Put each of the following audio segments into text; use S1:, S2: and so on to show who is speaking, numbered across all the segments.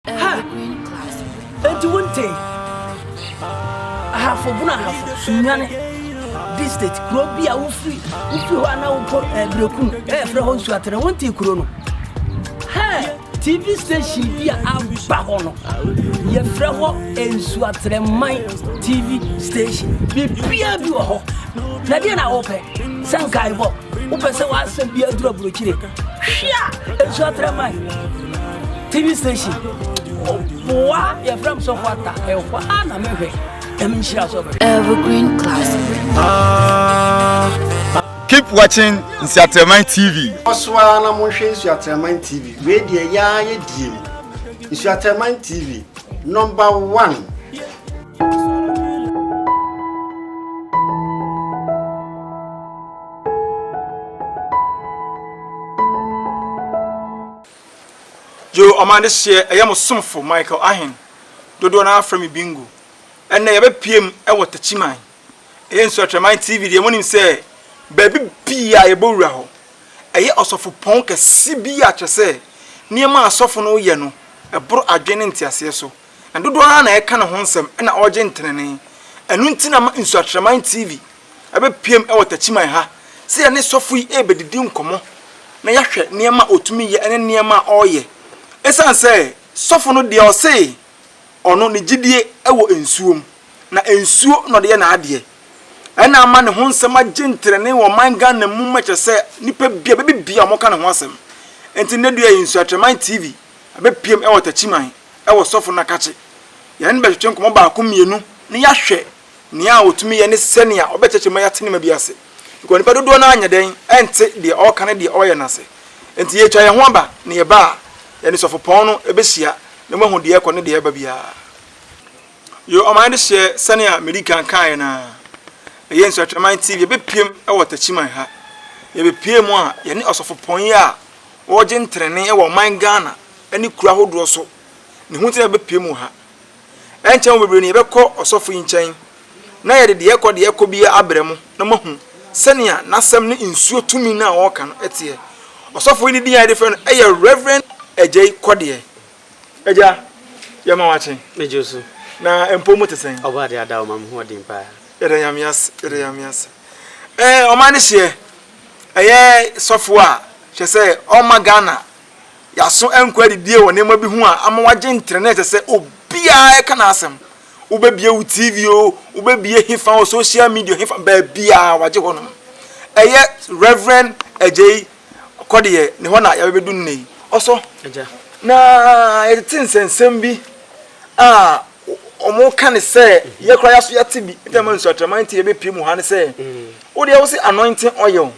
S1: Ha! Enti wontee?
S2: Ahafo bunu ahafo, sunyane, district, kuro bi a wofiri wofiri hɔ a na wokɔ ɛɛ eh, bereku no ɛɛfrɛ eh, hɔ nsuatene wontee kuro no? TV station bi a aba hɔ no, yɛfrɛ hɔ Nsuatrɛman TV station. Biribiara bi wɔ hɔ. Na deɛ na wopɛ sɛ nkaebɔ wopɛ sɛ w'asɛm bi aduru aburokyire hwe a Nsuatrɛman TV station boa yɛfrɛ m sɔfo ata ɛhɔ a na mehwɛ ɛm nhyira sɛ
S1: bɛhwɛ Evergreen Classic. Ah.
S3: Keep watching Nsuateraman TV. Kɔ so ara na monhwɛ
S4: Nsuateraman TV. Wei deɛ ɛyɛ ara yɛ die mu. Nsuateraman TV, number one.
S3: Yo, ɔman adehyeɛ, ɛyɛ mo somfo Michael Ahen, dodoɔ no ara frɛ me Bingo. Ɛnnɛ yɛbɛpiem wɔ Takyiman. Ɛyɛ Nsuatwaman TV deɛ monim sɛ baabi pii a yɛbɔ wura hɔ. Ɛyɛ ɔsɔfopɔn kɛse bi a kyerɛ sɛ nneɛma a asɔfo no yɛ no boro adwene ne nteaseɛ so. Na dodoɔ no ara na ɛka ne ho nsɛm na ɔregye ntenenee. Ɛno nti na ama Nsuatwaman TV abɛpuem wɔ Takyiman ha sɛ yɛne sɔfo yi rebɛdidi nkɔmmɔ na yɛahwɛ nneɛma a ɔtumi yɛ ne nneɛma a ɔreyɛ. Ɛsiane sɛ sɔfo no deɛ ɔse ɔno ne gyedie wɔ nsuo mu, na nsuo na ɔde yɛ n'adeɛ. Ɛna ama ne ho nsɛm agye ntenenee wɔ ɔman Ghana mu ma kyerɛ sɛ nnipa bia bɛbi bia wɔka ne ho asɛm. Nti nnɛ dua yi nso Atraman TV abɛpiem wɔ Takyiman wɔ Sɔfo Nakakye. Yɛne no bɛtwetwe nkɔmmɔ baako mmienu na yɛahwɛ Nea otumi yɛ ne sɛnea ɔbɛkyerɛkyerɛ ma yɛate nneɛma bi ase, because nnipa dodoɔ no ara nyɛ dɛn nte deɛ ɔreka ne deɛ ɔreyɛ no ase. Enti yɛretwa yɛn ho aba na yɛba a, yɛne sɔfopɔn no bɛhyia na moahu deɛ ɛrekɔ ne deɛ ɛreba biara. Yo, ɔman de hyɛ sɛnea medi kan kaeɛ no ara. Ɛyɛ Nsratwaman TV, yɛbɛpiem wɔ Takyiman ha. Yɛbɛpue mu a, yɛne ɔsɔfopɔn yi a ɔregye ntenenee wɔ ɔman Ghana ne kuro ahodoɔ so, ne ho nti na yɛbɛpiem wɔ ha. Ɛnkyɛ mo bebree no yɛbɛkɔ ɔsɔfo yi nkyɛn, na yɛde deɛ ɛrekɔ deɛ ɛrekɔ biara abrɛ mo, na moahu sɛnea n'asɛm ne nsuo tumi no a ɔreka no teɛ. Ɔsɔfo yi ne din a yɛde frɛ no yɛ Rev. Agyei Kɔdeɛ. Agya, yɛma wo akye. Megye wo so. Na
S5: mpom
S3: mote sɛn? Ɔbɔadeɛ ada wo ma mo
S5: hoɔden paa. Yɛda Nyame ase,
S3: yɛda Nyame ase. Ɛɛ, ɔman no hyeɛ, ɛyɛ sɔfo a, hwɛ sɛ ɔmma Ghana. Yɛaso ankɔ adidie wɔ nneɛma bi ho a ama wagye ntrɛnɛ ɛsɛ sɛ obiara ɛka n'asɛm. Wobɛbie wo TV o, wobɛbie hefa o, social media hefa baabiara wagye hɔ nom. Ɛyɛ Rev. Agyei Kɔdeɛ ne hɔ na yɛabɛbɛdu nnɛ yi. Ɔsɔ, na yɛtete nsɛnsɛm bi a wɔka ne sɛ yɛ koraa yɛaso yɛate bi, nti ama nsuatraman nti yɛbɛpie mu ha ne sɛ, wo deɛ wo se anointing oil,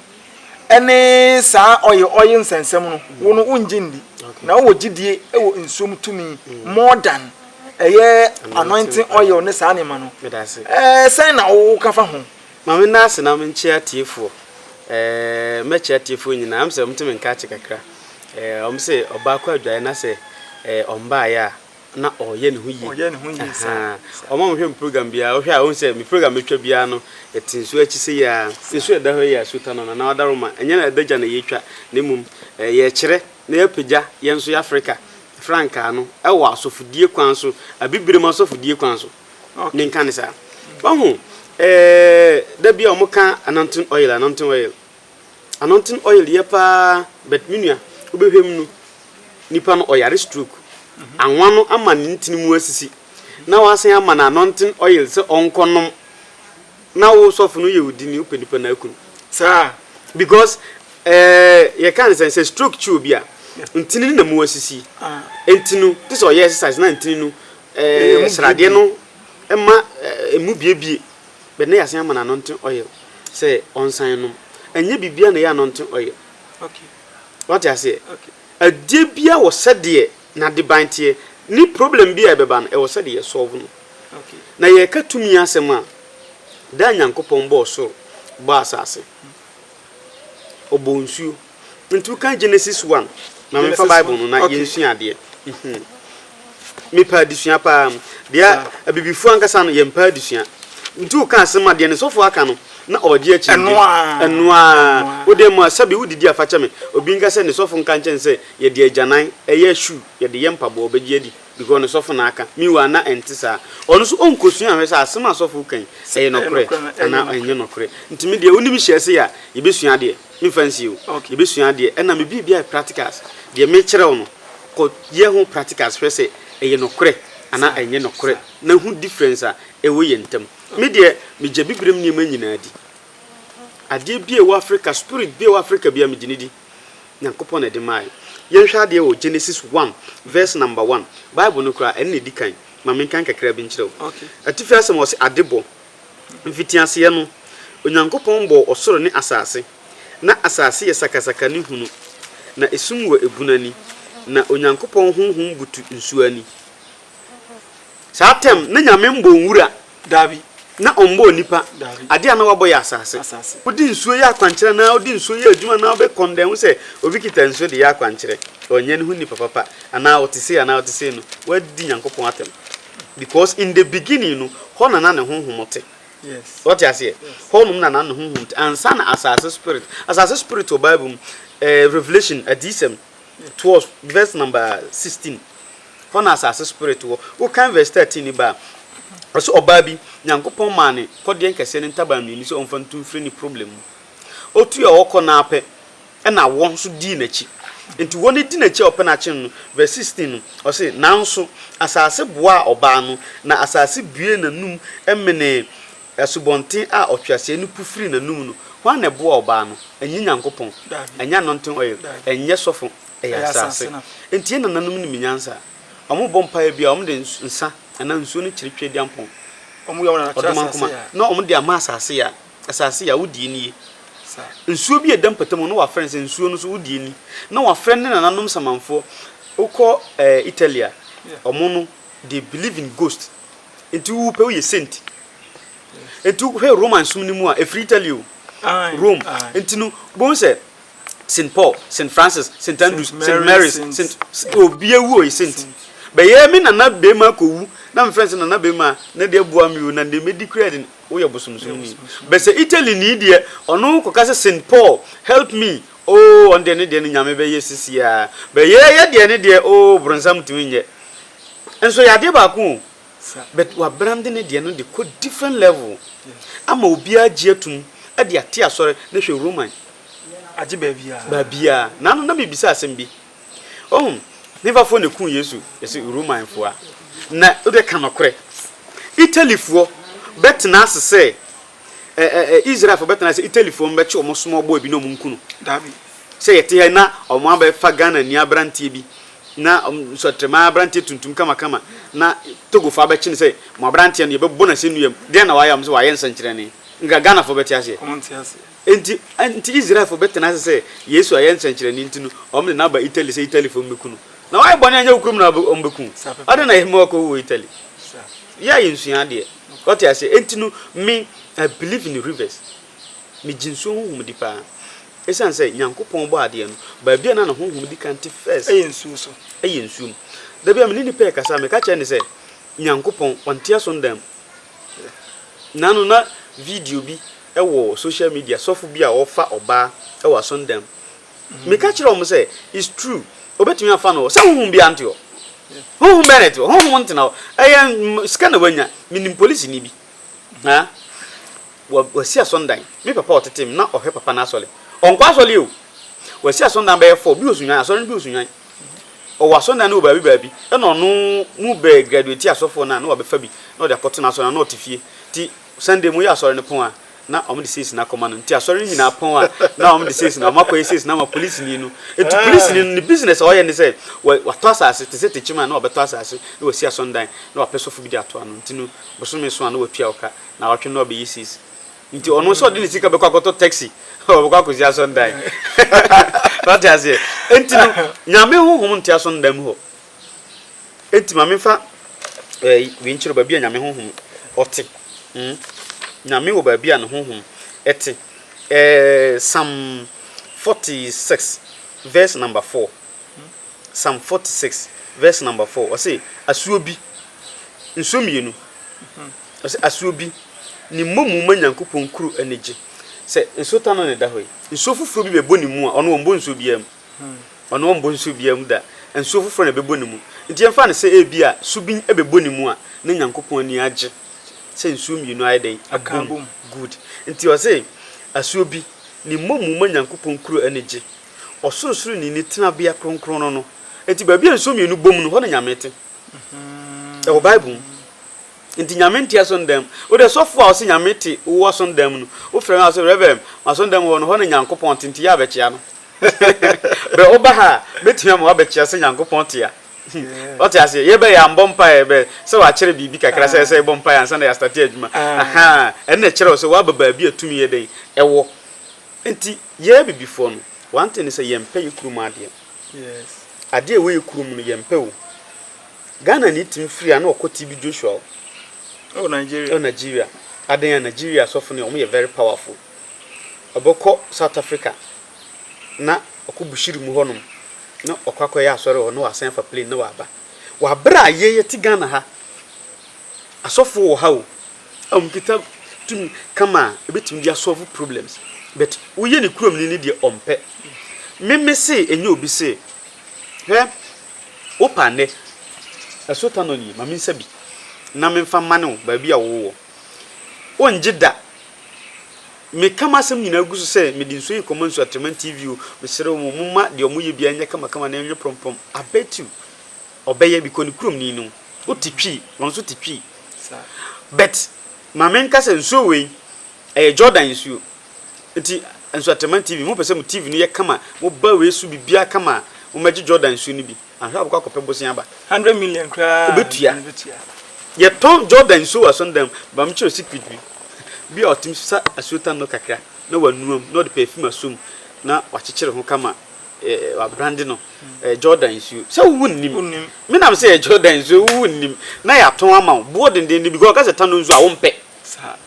S3: ne saa ɔye ɔye nsɛnsɛm no, wo no wongye ndi, na wowɔ gyidie wɔ nsuo mu tumi, more than ɛyɛ anointing oil ne saa nneɛma no, eh, sɛn na wo woka fa ho? Ma me nna ase na me
S5: nkye atiefoɔ, eh, mɛkye atiefoɔ nyinaa, ɛm sɛ wɔn te me nka akye kakra, eh, wɔn se ɔbaako adwae na sɛ, eh, ɔmbaeɛ a, na ɔyɛ ne ho yie ɔyɛ ne ho yie saa ɔma mo hwɛ mo program biara wohwɛ a wohu sɛ me program metwa biara no ɛte nsuo akyi sɛ yɛ a nsuo ɛda hɔ yɛ a suta no nana wadaro ma ɛnyɛ na ɛda gya na yɛtwa na mmom yɛkyerɛ na yɛapagya yɛn nso yɛ afrika frankaa no ɛwɔ asɔfodie kwan so abibirem asɔfodie kwan so ne nka ne saa wahu da bi a wɔka ananton oil ananton oil Ano ntsen oil yɛ paa but me nua wobɛhwɛ mu no nipa no ɔyare stroke, anwa no ama ne ntsen mu asisi na wɔasan ama no ano ntsen oil sɛ ɔnkɔ nom na wo sɔfo no yɛ wo dini wopɛ nipa no aku no saa
S3: because
S5: eh, yɛka ne sɛ sɛ stroke kyi obi a ntsen no na mu asisi enti no te sɛ ɔyɛ exercise na ntsen no eh, sradeɛ no ma eh, emu biebie. But ne yasen ama no anointing oil sɛ ɔnsan nom. Ɛnyɛ biribiara na ɛyɛ anointing oil.
S3: Wate aseɛ?
S5: Adeɛ biara wɔ sɛdeɛ n'adeban teɛ. Ne problem bi a ɛbɛba no, ɛwɔ sɛdeɛ yɛ solve no. Na yɛreka
S3: tumi
S5: asɛm a, da a Nyankopɔn bɔɔ soro, bɔɔ asase, Ɔbɔɔ nsuo, Ntu kan Genesis one ma me fa Bible no na yɛn sua adeɛ. Mhm. Mepɛ adesua paa. Deɛ abibifoɔ ankasa no yɛn paa adesua. Ntu kan asɛm adeɛ no sɔfo aka no na ɔgye akyi. Ɛno aa. Ɛno aa. Wode mu a sɛbi wodidi afakyɛ me. Obi nka sɛ ne sɔfo nka nkyɛn sɛ yɛde agyanan ɛyɛ shoe yɛde yɛ mpaboa ɔbɛgye adi. Because no sɔfo na aka. Meanwhile na ɛnte saa. Ɔno nso ɔnkɔsua nhwɛ sɛ asɛm a sɔfo reka yi, ɛyɛ nɔkorɛ anaa ɛnyɛ nɔkorɛ. Nti me deɛ wonim hyɛɛ sei a, yɛbɛsua adeɛ. Memfa nsie o. Yɛbɛsua adeɛ. Ɛna me biribi ayɛ practicals. Deɛ mekyerɛ wo no, kɔ yɛ ho practicals hwɛ sɛ ɛyɛ nɔkorɛ anaa ɛnyɛ nɔkorɛ na hu difference a ɛwɔ yɛn ntam. Me deɛ, megya Bibirem nneɛma nyinaa di. Adeɛ bi a ɛwɔ Africa, spirit bi a ɛwɔ Africa biara, megye no di. Nyankopɔn na ɛde maae. Yɛnhwɛ adeɛ wɔ Genesis one verse number one. Bible no koraa, ɛno na ɛdi kan. Ma menkan kakra bi nkyerɛ wo. Atifi asɛm hɔ se, Adebɔ. Mfitiaseɛ no, Onyankopɔn bɔɔ ɔsoro ne asase. Na asase yɛ sakasaka ne hunu, na esum wɔ ebunu ani, na Onyankopɔn honhom butu nsuo ani. Saa term, na Nyame mbɔɔ nwura, daabi,
S3: na ɔmmbɔɔ
S5: nipa, daabi, ade a na wabɔ yɛ asase. Odi nsuo yɛ akwankyerɛ anaa odi nsuo yɛ adwuma anaa ɔbɛ kɔn dɛn ho sɛ obi kita nsuo de yɛ akwankyerɛ, ɔnyɛ ne ho nipa papa anaa ɔte sei anaa ɔte sei no, w'adi Nyankopɔn atɛm because in the beginning no hɔ na na ne honhom te. W'ate
S3: aseɛ? Hɔ
S5: nom na na ne honhom te ansa na asase spirit, asase spirit wɔ bible mu, eh, Revelation, adiyisɛm, toɔ verse number sixteen hɔ na asase spirit wɔ wo kan verse thirteen ni ba ɔsɛ ɔbaa bi nyankopɔn maa ne kɔdeɛ nkɛseɛ ne ntaban mmienu sɛ ɔmfa ntu mfiri ne problem mu otu a ɔkɔ naa pɛ ɛna wɔn nso dii n'akyi nti wɔn di n'akyi a ɔpɛ n'akyen no verse sixteen no ɔsɛ nanso asase boaa ɔbaa no na asase bue n'anum ɛmenee Asubɔnten a ɔtweaseɛ no pu firii n'anom no, hwan na ɛboaa ɔbaa no? Ɛnyɛ Nyankopɔn, ɛnyɛ anointing oil, ɛnyɛ sɔfo, ɛyɛ asase. Enti yɛn nananom nim nyansa. Wɔbɔ mpaeɛ biara, wɔde nsa anaa nsuo no kyere Tweaduampɔn,
S3: Ɔdomankoma, na wɔde
S5: ama asase ya. Asase ya, wo deɛ nie. Nsuo bi a ɛda mpɔtam hɔ, na wɔafrɛ no sɛ nsuo no so, wo deɛ ni. Na wɔafrɛ ne nananom samanfoɔ. Wokɔ Italy a, wɔn no, they believe in ghost nti wo pɛ woyɛ saint nti hwɛ roman som no mu a ɛfiri italy o rome nti no bohu sɛ st paul st francis st andrews st marys st obi awu ɔyɛ saint bɛyɛ me nana bɛma akɔwu na mefrɛ sɛ nana bɛma na deɛ boa me o na deɛ mɛdi kura de woyɛ bosomsom ni bɛsɛ italy ni deɛ ɔno kɔka sɛ st paul help me Oh ɔno deɛ ne deɛ no Nyame bɛyɛ sisiaa but yɛ yɛ deɛ ne deɛ oh bronsam ntumi nyɛ nso yɛ adeɛ baako oh but wa brande ne deɛ no de kɔ different level ama obiara agye atum de ate asɔre na hwɛ Roman agye
S3: baabiara baabiara na ano na me
S5: bisa asɛm bi oh hefa foɔ na ɛkuu Yesu yɛse Roman foɔ a na wode ka nɔkorɛ Italy foɔ bɛtena ase sɛ. Ɛ ɛ ɛ Israel fo bɛ tena ase Italy fo mbɛ kye ɔmo small boy bi na ɔmo nku no daabi
S3: sɛ yɛ te ha yi
S5: na ɔmo abɛ fa Ghana ni abranteɛ bi na nsɔtrɛma abranteɛ tuntum kama kama na Togo fo abɛ kye no sɛ mo abranteɛ no yɛ bɛ bɔ no asɛnnua mu deɛn na wayɛ ɔmo sɛ wayɛ nsɛnkyerɛnne nka Ghana fo bɛ te aseɛ ɔmo nte aseɛ. Enti enti Israel fo bɛ tena ase sɛ Yesu ayɛ nsɛnkyerɛnne nti no ɔmo de no aba Italy sɛ Italy fo mbɛ ku no na wayɛ bɔne anyɛ wo kurom na ɔmo bɛ ku wo adɛn na yɛ mma wakɔ wu wɔ Italy yɛ a yɛ nsua adeɛ. Wate aseɛ? Enti no, me, I believe in rivers. Megye nsuo honhom di paa. Ɛsiane sɛ Nyankopɔn bɔɔ adeɛ no, baabi a na ne honhom di kan te first, Ɛyɛ nsuo so. ɛyɛ nsuo mu. Da bi a me ne nipa rekasa a, meka kyerɛ no sɛ, Nyankopɔn, ɔnte asɔndan mu. Naano na video bi wɔ social media, sɔfo bi a ɔrefa ɔbaa wɔ asɔndan mu. Meka kyerɛɛ wɔn sɛ, It's true, obetumi afa no hɔ. Sɛ honhom biara nte hɔ. Honhom bɛn na ɛte hɔ? Honhom ntena hɔ. Ɛyɛ sika na wanya. Minim polisini bi. Ha? Wa, wasi asɔndan. Me papa a ɔtetee me, na ɔhwɛ papa no asɔre. Ɔnkɔ asɔre o! Wasi asɔndan bɛyɛ four. Bi wɔ Sunnwan, asɔre no bi wɔ Sunnwan. Ɔwɔ asɔndan no wɔ baabi baabi. Ɛna ɔno, mu bɛ graduati asɔfoɔ no a, na wabɛfa bi, na ɔde akɔto n'asɔre no, na ɔte fie. Nti, Sunday moyɛ asɔre no pon a na wɔde sees no akɔma no nti asɔre no nyinaa pon a na wɔde sees no wɔakɔyɛ sees no ama polisini no nti polisini no ne business a ɔyɛ ne sɛ watɔ asase te sɛ tekyim a na ɔbɛtɔ asase na wasi asɔndan na wapɛ sɔfo bi de ato ano nti no bosome so a na watua wo ka na awɔtwe no na wabɛyɛ sees nti ɔno nso ɔde ne sika bɛkɔ akɔtɔ taxi ɔbɛkɔ akɔsi asɔndan wate aseɛ nti no nyame honhom nte asɔndan mu hɔ Enti ma memfa ɛɛ wei nkyerɛ wo, baabi a Nyame honhom ɔte. Hmm, Nyame wɔ baabi a ne honhom te. Ɛɛ Psalm 46 verse number 4. Psalm 46 verse number 4. Ɔse asuo bi, nsuo mmienu. Ɔse asuo bi, ne mmomu ma Nyankopɔn kuro ani gye. Sɛ nsuo tano na ɛda hɔ yi, nsuo foforɔ bi bɛbɔ ne mu a, ɔno ɔmbɔ nsuo biara mu. Ɔno ɔmmɔ nsuo biara mu da, nsuo foforɔ na ɛbɛbɔ ne mu. Nti yɛmfa no sɛ ebia subin bɛbɔ ne mu a, na Nyankopɔn ani agye sɛ nsuo mmienu ayɛ dɛn? Abɔ mu. Good. Nti ɔse, asuo bi, ne mmɔmu ma Nyankopɔn kuro ani gye, Ɔsorosoroni ne tenabea kronkron no no. Nti baabi a nsuo mmienu bom no, hɔ na Nyame te. Ɛwɔ Bible mu. Nti Nyame nte asɔndan mu. Wode sɔfo a ɔse Nyame te wo asɔndan mu no, wofrɛ no a ɔse, Reverend, m'asɔndan mu hɔ no, hɔ na Nyankopɔn te, nti yɛ a bɛkyea no. Berɛ woba ha a, mɛtumi ama woabɛte aseɛ Nyankopɔn te a. Wate aseɛ? Yɛreba yi, yɛambɔ mpaeɛ. Ɛbɛ sɛ wɔakyerɛ biribi kakra sɛ ɛsɛ sɛ yɛbɔ mpaeɛ ansa na yɛastate adwuma. Ahaa, ɛno na ɛkyerɛ wo sɛ woaba baabi a tumi yɛ dɛn? Ɛwɔ. Enti, yɛn Abibifoɔ no, one thing ne sɛ, yɛmpɛ yɛn kurom adeɛ.
S3: Adeɛ a ɛwɔ yɛn
S5: kurom no, yɛmpɛ o. Ghanani tumi firi ha na ɔkɔ TB Joshua o. Ɛwɔ
S3: Nigeria. Ɛwɔ Nigeria.
S5: Adɛn a? Nigeria asɔfo no, wɔyɛ very powerful. ɔbɔkɔ South Africa na ɔkɔ Bushiri mu hɔ nom na ɔkɔ akɔyɛ asɔre wɔ hɔ na ɔasan afa plane na ɔaba. Wɔ aber a yɛ yɛtse Ghana ha, asɔfo wɔ ha o a wɔkitsa tum kama a ebetumi dze asɔlve problems but woyɛ ne kurom ni ne deɛ ɔmpɛ. Me me se enye obi se hwɛ wo paa ndɛ ɛso tanɔ nie ma me nsa bi na me nfa mane wo baabi a wo wɔ. Wonngye da! Meka m'asɛm nyinaa gu so sɛ mede nsuo yi rekɔma Nsuatreman TV o, mesrɛ mo momma deɛ wɔyɛ biara nyɛ kamakama na ɛnyɛ prɔmprɔm, I bet you ɔbɛyɛ because ne kurom ni no, wote Twi, wɔn nso te Twi. But ma menka sɛ nsuo wei ɛyɛ Jordan nsuo, nti Nsuatreman TV, mopɛ sɛ mo TV no yɛ kama, moba wei so biribiara kama a, mommɛgye Jordan nsuo no bi. Ahwɛ abɛkɔ akɔpɛ bosea aba. Hundred million koraa na
S3: obetua.
S5: Yɛtɔn Jordan nsuo wɔ asɔndan mu. Ba me kyerɛ secret bi. Bi a ɔtumi sa asuotan no kakra na wanua mu na ɔde perfume asɔ mu na wakyekyere ho kama eh, wabrande no. Ɛyɛ Jordan nsuo. Sɛ wo nnim. Wonnim. Me nam sɛ ɛyɛ Jordan nsuo, wo nnim. Na yɛatɔn ama wo. Boɔ dendenden because ɔka sɛ tano nsuo a wompɛ.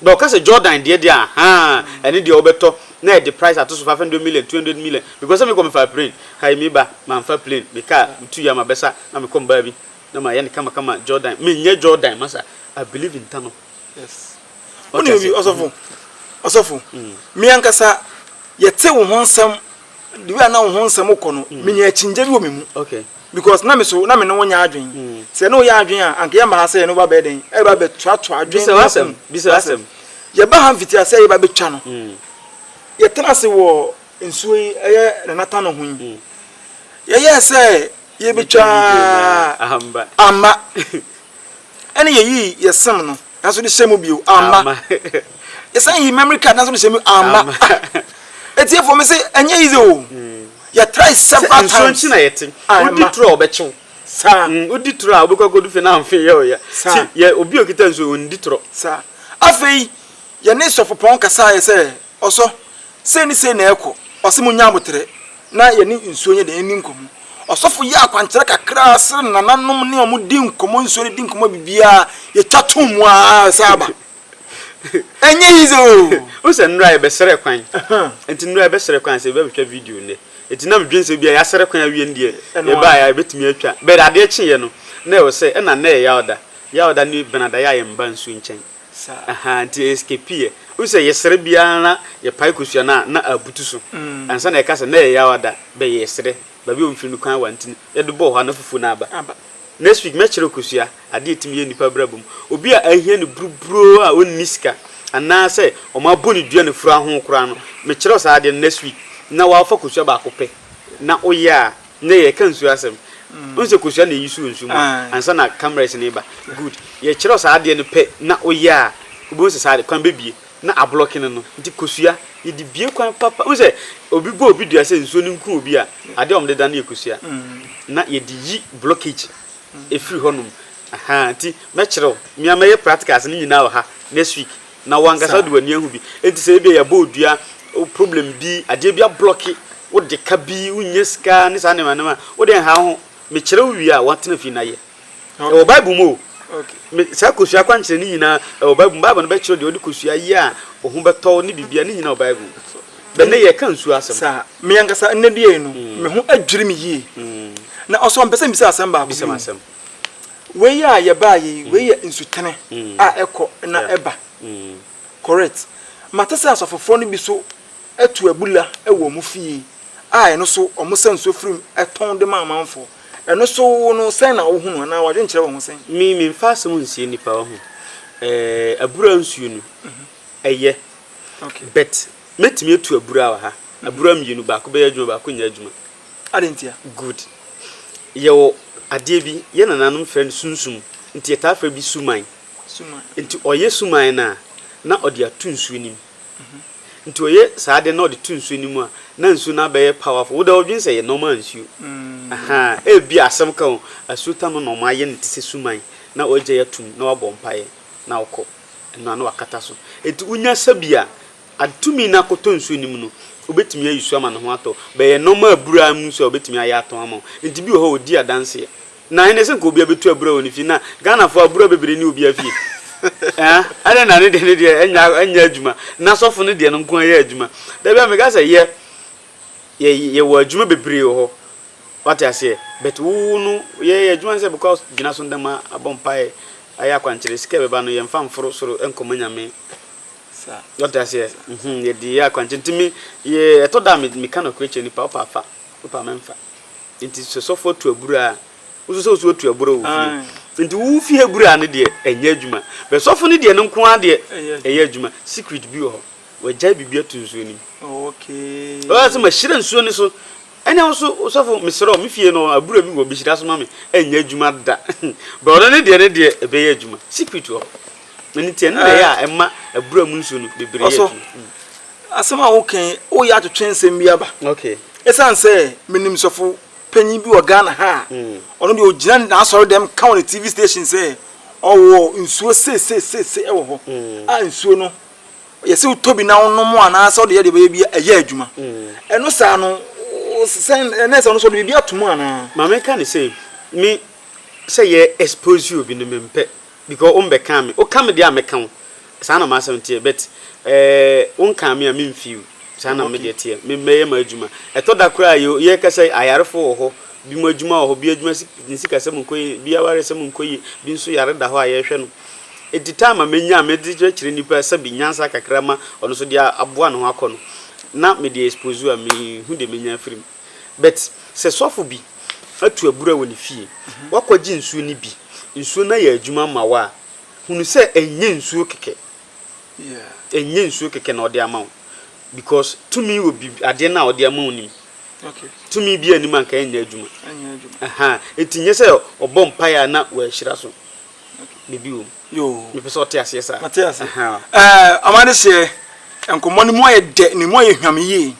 S5: Na ɔka sɛ Jordan deɛ deɛ ahaa ɛne deɛ wobɛtɔ na ɛde price ato so five hundred million, two hundred million because sɛ mekɔ mefaa plane hai me ba manfa plane me car metu ya mabɛsa na mekɔ mbaa bi na mayɛ no kama kama Jordan menyɛ Jordan masa I believe in tano yes
S3: wone obi ɔsɔfo ɔsɔfo me ankasa yɛte wo ho nsɛm the way a na wo ho nsɛm kɔ no menya akyinnye bi wɔ me mu okay. Because na me
S5: so na
S3: me ne wo nyɛ adwen. Sɛ yɛne wo yɛ adwen a, anka yɛmma ha sɛ yɛne wo bɛbɛyɛ dɛn? Ɛreba abɛtoatoa adwen ne yafunu. Bisa w'asɛm.
S5: Yɛba ha mfitiase
S3: a yɛba abɛtwa no, yɛtena ase wɔ nsuo yi, ɛyɛ Nanatano ho yi, yɛyɛɛ sɛ yɛbɛtwa a, amma. Ɛne yɛyii yɛ sim no nanso de hyɛ mu bio amma. Yɛsan yii memory card nanso de hyɛ mu amma. Etiefo me se ɛnyɛ easy o. Yɛ try several times. Sɛ nsuo nkyi na yɛte. Wodi
S5: turo a ɔbɛkyew. Saa. Wodi
S3: turo a wobɛkɔ
S5: akɔdu fie na mfe yɛ ɔya. Saa. Yɛ obi a okita nsuo ondi turo. Saa. Afei
S3: yɛne sɔfopɔn kasaeɛ sɛ Ɔsɔ, Sei ne sei na ɛrekɔ, ɔse monnya aboterɛ na yɛne nsuo nyɛ dɛn nni nkɔmmɔ. Ɔsɔfo yɛ akwankyerɛ kakraa sere ne nananom ne wɔn di nkɔmmɔ nsuo no di nkɔmmɔ biribiara yɛtwa to mu ara ɛsan aba. Ɛnyɛ easy o! Wohu sɛ nnora
S5: yɛbɛsrɛ kwan, nti nnora yɛbɛsrɛ kwan sɛ yɛbɛ bɛtwa video nnɛ, nti na medwene sɛ ebia yɛasrɛ kwan awie no deɛ yɛbaeɛ a yɛbɛtumi atwa, but adeɛ kyeeɛ no na ɛwɔ sɛ, ɛna nnɛ yɛ Yawda, Yawda ne Benada yɛ a yɛmma nsuo nkyɛn. Saa ahaa nti yɛeskapiiɛ. Wohu sɛ yɛsrɛ biara na yɛpae kosua no a na abutu so. Ansa na yɛka sɛ na yɛyɛ awa da bɛ yɛɛsrɛ baabi a wɔmfiri no kwan awa ntini. Yɛde bɔɔ hɔ a na fufuo no aba. Next week mɛkyerɛ wo kosua, adeɛ a ɛtumi yɛ nnipa abrabɔ mu. Obi a ahia no buruburoo a ɔnni sika anaa sɛ wɔabɔ no dua na fura ho koraa no, mekyerɛ wo saa adeɛ no next week na woafa kosua baako pɛ na woyɛ a, Ndɛ yɛka nsuo asɛm wohu sɛ kosua na ɛyi suo nsuo mu a ansa na cameras no reba good yɛkyerɛw saa adeɛ no pɛ na woyɛ a wobɛhu sɛ saa adeɛ kwan bɛbie na ablɔke no no nti kosua yɛde bie kwan papa wohu sɛ obi bɔ obi dua sɛ nsuo no nku obi a adeɛ a wɔde da no yɛ kosua na yɛde yi blockage. ɛfiri hɔ nom ahaa nti mɛkyerɛ wo me a mɛyɛ practicals no nyinaa wɔ ha next week na wankasa wode w'ani ahu bi nti sɛ ebia yɛabɔ odua problem bi adeɛ bi ablɔke wode ka bi wonnya sika ne saa nneɛma nneɛma wode nhaa wo ho mekyerɛ wo wie a watena fie na yɛ ɛwɔ bible mu o me saa kosua kwankyerɛ ne nyinaa ɛwɔ bible mu bible no bɛkyerɛ deɛ wode kosua yɛ a wo ho bɛtɔ wo ne biribiara ne nyinaa wɔ bible mu Bɛ nnɛ yɛka nsuo asɛm. Saa. Me ankasa nnɛ
S3: deɛ yi no, me ho adwiri me yie. Na ɔsɔɔ mpɛ sɛ mbisa asɛm baako bi. Bisa me asɛm. Wei a yɛbaeɛ yi, wei yɛ nsutene a ɛkɔ na ɛba. Correct. Mate sɛ asɔfofoɔ no bi nso to abula wɔ wɔn fie a ɛno nso wɔsa nsuo firi mu tɔn de ma amanfoɔ. Ɛno nso wo no sɛn na wohu no anaa w'adwene kyerɛ wo ho sɛn? Me, memfa asɛm nsie
S5: nnipa, wahu. Ɛɛ, abura nsuo no, Ɛyɛ.
S3: But mɛtumi
S5: atu abura wɔ ha. Abura mmienu, baako bɛyɛ adwuma, baako nyɛ adwuma. Adɛn ntia?
S3: Good.
S5: Yɛwɔ adeɛ bi, yɛn nananom frɛ no sunsum, nti yɛtaa frɛ bi suman. Suman. Nti ɔyɛ suman no a, na ɔde ato nsuo no mu. Nti ɔyɛ saa adeɛ no na ɔde to nsuo no mu a, na nsuo no abɛyɛ powerful. Wo deɛ wodwene sɛ ɛyɛ normal nsuo. Ahaa, ebia asɛm ka o, asuo tam no na wɔayɛ no te sɛ suman, na wagyae atom, na wabɔ mpaeɛ, na wokɔ. Ɛno ano akata so. Enti wonya sa bi a, ade tumi no akɔtɔ nsuo no mu no, wobɛtumi ayi so ama ne ho atɔ. Bɛyɛ nnoɔma a abura mu nso a wobɛtumi ayɛ atɔn ama wo. Enti bi wɔ hɔ a ɔdi adanseɛ. Na ɛnnɛ sɛ nka obiara bɛtu abura wɔ ne fie. Na Ghanafoɔ abura bebree nni obiara fie. Ɛɛa, adɛn na ne deɛ no deɛ ɛnyɛ ɛnyɛ adwuma, na sɔfo no deɛ no nko ara yɛ adwuma. Da biara meka sɛ yɛ, yɛ, yɛwɔ adwuma bebree wɔ hɔ. Wate aseɛ but wo no yɛ yɛ adwuma ne sɛ bɛkɔ gyina so ndɛma abɔ mpaeɛ ayɛ akwankyerɛ sika ɛbɛba no yɛnfa nforo soro nkɔma nyame wate aseɛ hmm yɛde yɛ akwankyerɛ nti me yɛ ɛtɔ da a me meka nɔkorɛ kyerɛ nipa wopɛ afa wopɛ a mɛnfa nti sɛ sɔfo atu abura a woso sɛ woso atu abura wɔ fie nti wo fie abura no deɛ ɛnyɛ adwuma bɛ sɔfo no deɛ no nko ara deɛ ɛyɛ adwuma secret bi wɔ hɔ wagyae biribi ato nsuo nim
S3: ɔyɛ sɛ mahyira
S5: nsuo no so Ɛnna ɔse, Osɔfo, mesrɛ wo, me fie no, abura bi wɔ, behyira so ma me, ɛnyɛ adwuma da. But ɔno ne deɛ, ne deɛ, ɛbɛyɛ adwuma. Secret wɔ hɔ. Ɛno nti, ɛno na ɛyɛ a ɛma abura mu nsuo no bebree yɛ adwuma. Ɔsɔ, asɛm
S3: a woka yi, woreyɛ atwetwe nsɛm bi aba. Okay. Ɛsiane sɛ menim sɔfo panyin bi wɔ Ghana ha a, ɔno deɛ ɔgyina n'asɔredɛm ka wɔ ne TV station sɛ ɔwɔ nsuo sei sei sei sei wɔ hɔ, a nsuo no, yɛsɛ wotɔ bi na wonom anaasɛ wode yɛ deɛ bɛyɛ bi ɛyɛ adwuma ɛno saa no sɛn ɛnɛ sɛ ɔno sɛ ɔde biribi ato mu anaa ma meka ne sɛ
S5: me sɛ yɛ expose you obi no mempɛ because wombɛkaa me woka me deɛ a mɛka wo saa na m'asɛm teɛ but eh, wonkaa me a memfeel saa na medeɛ teɛ me mɛyɛ m'adwuma ɛtɔ da koraa yɛ yɛka sɛ ayarefo wɔ hɔ bi mu adwuma wɔ hɔ bi adwuma si- ne sikasɛm nkɔ yie bi awaresɛm nkɔ yie bi nso yare da hɔ a yɛhwɛ no Enti time a menya a medze kyerɛkyerɛ nyimpa sɛbe nyansa kakra ma ɔno so de aboa no ho akɔ no na mede expose a mennhu dɛ menya afir mu. But sɛ sɔfo bi atu abura wɔ ne fie, ɔakɔgye nsuo no bi, nsuo no ayɛ adwuma ama wo a, hunu sɛ ɛnnyɛ nsuo kɛkɛ, ɛnnyɛ nsuo kɛkɛ na ɔde ama wo because tumi wɔ biribi adeɛ no a ɔde ama wo no mu. Tumi
S3: biara nni mu a
S5: nka ɛnnyɛ adwuma. Ɛhaa, enti nnyɛ sɛ ɔbɔ mpaeɛ a na wahyira so. Biribi wɔ mu. Yoo. Mepɛ sɛ ɔte
S3: aseɛ saa.
S5: Mate ase. Ɛɛ
S3: ama ne seɛ nkɔmmɔ no mu ayɛ dɛ na emu ayɛ hwam yie.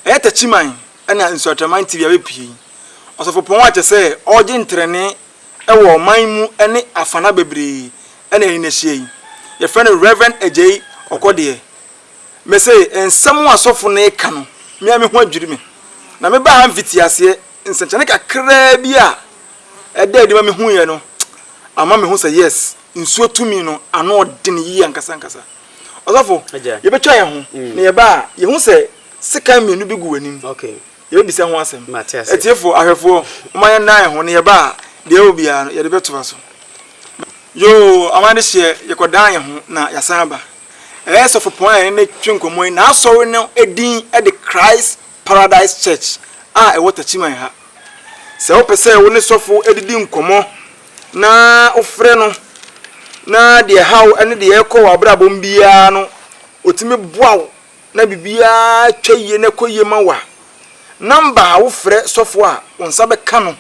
S3: Ɛyɛ takyiman ɛna nsuatraman TV abɛpue yi. Ɔsɔfopɔn a kyerɛ sɛ ɔregye ntrɛnee ɛwɔ ɔman mu ɛne afana bebree ɛna yɛne no ahyia yi. Yɛfrɛ no Rev. Agyei Ɔkɔdeɛ. Mese nsɛm a sɔfo no reka no me ara me ho adwiri me. Na mebaa ha mfitiaseɛ. Nsɛnkyerɛnne kakraa bi a ɛdaa adi ma mihuiɛ no ama mehu sɛ yes, nsuo tumi no ano ɔden yie ankasa ankasa. Ɔsɔfo, yɛbɛtwa yɛn ho na yɛba a, yɛhu sɛ sekan mmienu bi gu w'anim. Yɛbɛbisa
S5: ho asɛm.
S3: Atiefoɔ,
S5: ahwɛfoɔ,
S3: momma yɛnna yɛn ho na yɛba a, deɛ ɛwɔ biara no, yɛde bɛtoa so. Yoo, ama adehyeɛ, yɛkɔdan yɛn ho na yɛasan aba. Ɛyɛ sɔfopɔn a yɛne no twe nkɔmmɔ yi, n'asɔre no din de Christ Paradise Church a ɛwɔ Takyiman ha. Sɛ wopɛ sɛ wo ne sɔfo didi nkɔmmɔ na wofrɛ no na deɛ ɛhaw ne deɛ ɛrekɔ w'abrabɔ mu biara no, ɔtumi boa wo na biribiara twa yie na ɛkɔ yie ma wo a, nɔmba a wofrɛ sɔfo a wo nsa bɛka no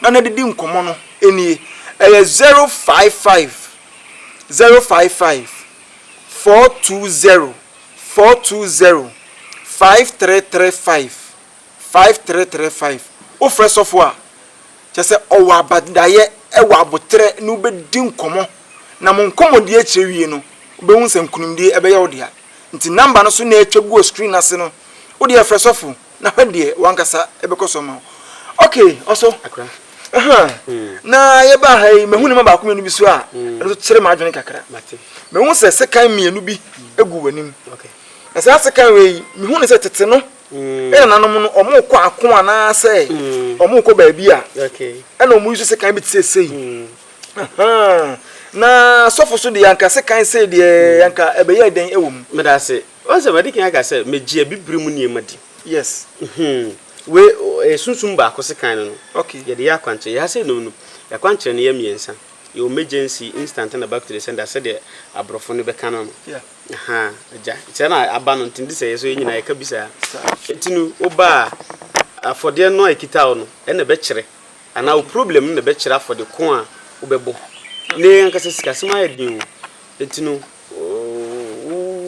S3: na no adidi nkɔmmɔ no nie, ɛyɛ 055 055 420. Four two zero five three three five five three three five wofrɛ sɔfo a kyerɛ sɛ ɔwɔ abadaeɛ ɛwɔ aboterɛ ne wobɛdi nkɔmmɔ na mo nkɔmmɔdie akyire wie no wobɛhu sɛ nkunimdie ɛbɛyɛ wo dea nti number no so na atwa gu wɔ screen no ase no wodeɛ frɛ sɔfo Na hwɛ deɛ w'ankasa bɛkɔ so ama wo. Ok, ɔso. Akra. Aha. Na yɛbaa ha yi, mahu nneɛma baako mmienu bi so a, ɛno nso kyerɛ m'adwene kakra. Mate. Mehu sɛ
S5: sekan
S3: mmienu bi gu w'anim. Ok. Na saa
S5: sekan
S3: wei yi, mehu ne sɛ tete no, ɛna nanom no, wɔkɔ ako anaasɛ wɔkɔ baabi a, ɛna wɔyi so sekan bi te sɛ
S5: sei.
S3: Aha. Na sɔfo so deɛ, anka sekan sei deɛ, anka ɛbɛyɛ dɛn wɔ mu? Meda ase. Wahu sɛ
S5: wadi kan aka sɛ, Megye abibire mu nneɛma di. Yes. Mhmm.
S3: Wei,
S5: ɛyɛ sunsum baako sekan no no. Okay. Yɛde yɛ akwankyerɛ.
S3: Yɛn ha sɛ
S5: yɛnom no, yɛakwankyerɛ no yɛ mmiɛnsa. Yɛwɔ emergency, instant ɛna back to the sender sɛdeɛ aborɔfo no bɛka no no. Yeah. Ahaa,
S3: agya.
S5: Saa na aba no nti nti sɛ yɛ so yɛn nyinaa yɛka bi saa. Saa. Nti no, woba a, afɔdeɛ no a ɛkita wo no ɛna ɛbɛkyerɛ anaa wo problem no na ɛbɛkyerɛ afɔde ko a wobɛbɔ. Nnɛ yɛn ankasa sikasɛm ayɛ den o. Nti no.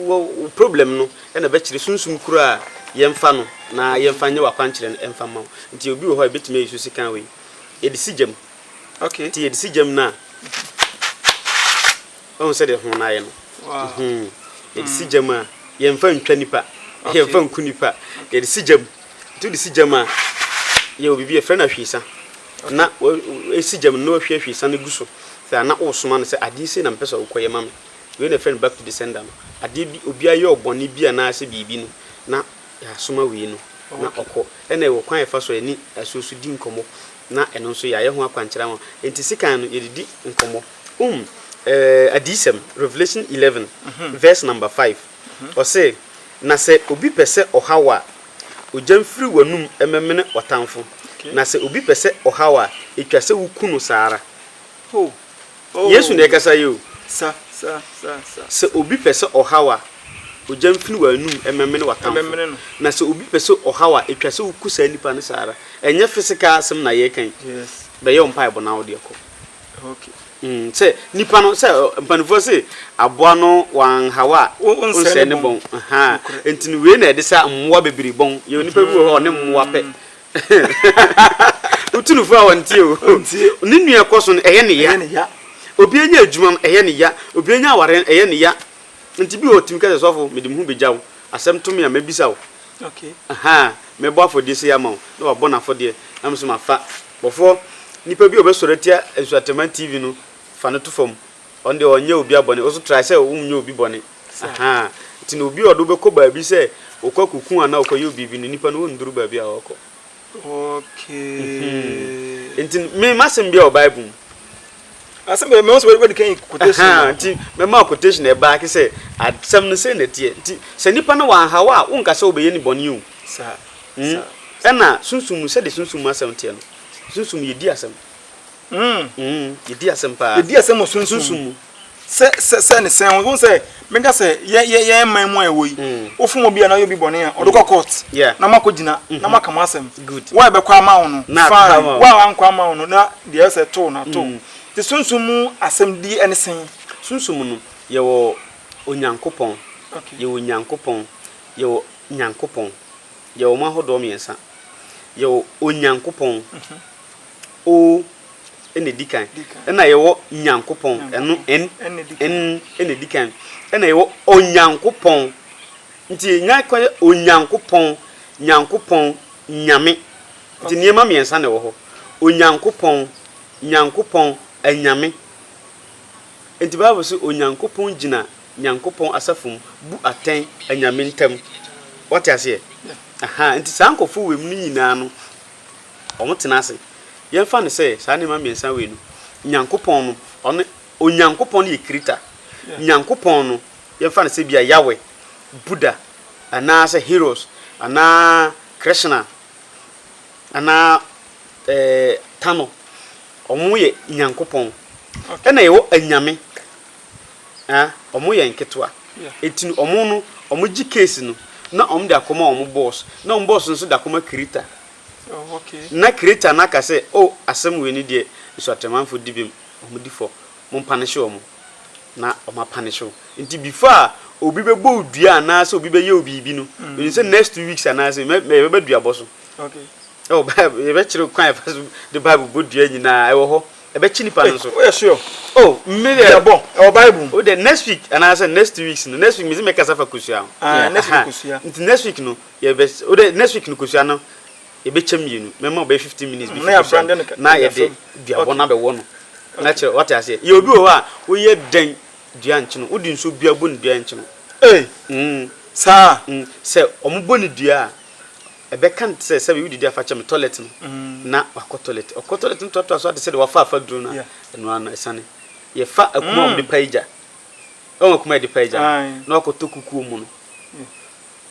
S5: Wo wo problem no na ɛbɛkyerɛ sunsum koro a yɛmfa no na yɛmfa nyɛ w'akwankyerɛ no ɛmfa mma wo. Nti obi wɔ hɔ a yɛbɛtumi ayi so sekan wei. Yɛde si gya mu. Okay. Nti yɛde
S3: si gya mu no a,
S5: woahu sɛdeɛ ho no ayɛ no? Wow.
S3: Yɛde si
S5: gya mu a, yɛmfa ntwa nipa, yɛmfa nku nipa, yɛde si gya mu. Nti wode si gyam a, yɛ biribi yɛfrɛ no ahwiesa na wosi gyam no na woahwie ahwiesa no agu so sɛ a na woresoma no sɛ adeɛ sei na mepɛ sɛ wokɔyɛ ma me. Wei na yɛfrɛ no back to the sender no. Adeɛ bi, obi ayɛ wo bɔne bi anaasɛ biribi no na yɛasoma wei no na ɔkɔ. Ɛna yɛwɔ kwan a yɛfa so a yɛne asuo so di nkɔmmɔ na ɛno nso yɛayɛ ho akwankyerɛ ama wo. Nti sekan no yɛde di nkɔmmɔ. Wohu ɛɛ Adiyisɛm, Revelation eleven verse number five. Ɔse, Na sɛ obi pɛ sɛ ɔha wo a, ogya mfiri w'anum mmɛmene w'atamfo, na sɛ obi pɛ sɛ ɔha wo a, etwa sɛ wuku no saa ara. Yesu na ɛrekasa yi o. Sɛ obi pɛ sɛ ɔha wo a, ogya mfiri w'anum mmɛmene w'atamfo, na sɛ obi pɛ sɛ ɔha wo a, etwa sɛ wuku saa nipa no saa ara. Ɛnyɛ physical asɛm na yɛreka yi. Bɛyɛ wo
S3: mpaebɔ na
S5: wo deɛ kɔ.
S3: Sɛ
S5: nipa no sɛ mpanimfoɔ se aboa no wanhaw a ɔnsɛe ne bɔn nti no wei na ɛde sa mmoa bebree bɔn yɛ nipa bi wɔ hɔ ɔne mmoa pɛ wotunufo a wɔntie o ne nua kɔ so no ɛyɛ ne ya obi anya adwuma no ɛyɛ ne ya obi anya aware no ɛyɛ ne ya nti bi wɔ ɔtumi kɛsɛ sɔfo mede me ho bɛgya wo asɛm to me a mɛbisa wo
S3: mɛbɔ
S5: afɔdeɛ sei ama wo na wabɔ no afɔdeɛ na me so mafa Bɔfoɔ, nipa bi a ɔbɛsɔre atia Nsuatɛmma TV no, fa no to fam. Ɔno deɛ ɔnyɛ obia bɔne, woso try sɛ wonyɛ obi bɔne. Ahaa. Nti no obi a ɔde wo bɛkɔ baabi sɛ wokɔ akɔku anaa wokɔ yɛ wo biribi no, nipa no ɔnduru baabi a ɔɔkɔ. Okay.
S3: Nti no, me m'asɛm
S5: biara wɔ Bible mu. asɛm
S3: bɛ mɛma sɛ wɔde kan quotation ma nti mɛma quotation
S5: ɛbaa ke sɛ asɛm no sɛ na ɛteɛ nti sɛ nipa no wanhaw a wonka sɛ wobɛyɛ ne bɔne o saa
S3: mm ɛna
S5: sunsum mu sɛde sunsum mu asɛm teɛ no sunsum yɛdi asɛm mm yɛdi asɛm paa yɛdi asɛm wɔ sunsum
S3: mu Sɛ sɛ sɛ ne sɛn o sɛ meka sɛ yɛ yɛ yɛ man mu a ɛwɔ yi mm. wofom obi a na yɛ obi bɔne a ɔde kɔ mm. court na mo akɔ gyina na mm-hmm. mo aka mo asɛm wo a ɛbɛkɔ ama wo no fine wo a wankɔ ama wo no na deɛ ɛsɛ to na to mm. te sunsun mu asɛm di ɛne sɛn. sunsun mu no
S5: yɛwɔ onyankopɔn yɛwɔ
S3: nyankopɔn
S5: yɛwɔ nyankopɔn yɛwɔ mo ahodoɔ mmiɛnsa yɛwɔ onyankopɔn. Mm-hmm. O na ɛdi kan. Ɛna yɛwɔ Nyankopɔn. Ɛno, N, N na ɛdi kan. Ɛna yɛwɔ Onyankopɔn. Nti yɛn nyinaa kɔ yɛ Onyankopɔn, Nyankopɔn, Nyame. Nti nneɛma mmiɛnsa na ɛwɔ hɔ. Onyankopɔn, Nyankopɔn, Anyame. Nti Bible se Onyankopɔn gyina Nyankopɔn asafo mu bu atɛn anyame ntam. Wate aseɛ? Aha, nti saa nkurɔfoɔ wɔ mu no nyinaa no, wɔtena ase. Yɛmfa no sɛ saa nneɛma mmiɛnsa wei no, Nyankopɔn no, ɔno, Onyankopɔn no yɛ Krita. Nyankopɔn no, yɛmfa no sɛ bi a Yahweh, Buddha, anaasɛ Heros, anaa Krishna, anaa ɛɛ Tano. Wɔyɛ Nyankopɔn. Ɛna yɛwɔ anyame a ɔmo yɛ nketewa nti no ɔmo no ɔmo gye case no na ɔmo de akɔma ɔmo boss na ɔmo boss no nso de akɔma creator
S3: na creator no
S5: aka sɛ oh asɛm wei no deɛ Nsuatremanfo di bem ɔmo di fɔ mo mpanishe ɔmo na ɔmo apanishe wo nti before a obi bɛbɔ wo dua anaasɛ obi bɛyɛ wo biribi no menim sɛ next two weeks anaasɛ mɛ mɛ yɛbɛba duabɔ so
S3: ɛwɔ bible
S5: yɛbɛkyerɛ kwan a yɛfa so de bible bɔ dua nyinaa ɛwɔ hɔ ɛbɛkye nipa no nso. Woyɛ sure? Oh,
S3: me deɛ. Yɛbɔ,
S5: ɛwɔ Bible mu.
S3: Wode next week anaasɛ
S5: next two weeks no, next week mese mɛkasa fa kosua ho. Ah, next week kosua.
S3: Nti next week no,
S5: yɛbɛ, wode next week no kosua no, yɛbɛkyɛ mmienu. Mɛma ɔbɛyɛ fifteen minutes bi fi kosua no, na yɛde duabɔ no abɛwɔ no. Na kyerɛ, wate aseɛ. Yɛ obi wɔ hɔ a, woyɛ dɛn dua nkye no? Wode nsuo bia bɔ ne dua nkye no. Ei! Mm. Saa? Mm.
S3: Sɛ wɔbɔ
S5: ne dua a. Ɛbɛka no te sɛ sɛdeɛ wodidi afa kyɛ me tɔlɛt no na wakɔ tɔlɛt. Ɔkɔ tɔlɛt no toatoa so ara te sɛdeɛ wafa afa duro no a, ɛno ara no asiane. Yɛfa akuma a wɔde pae gya, woahu akuma a yɛde pae gya no, na wakɔtɔ kukuo mu no,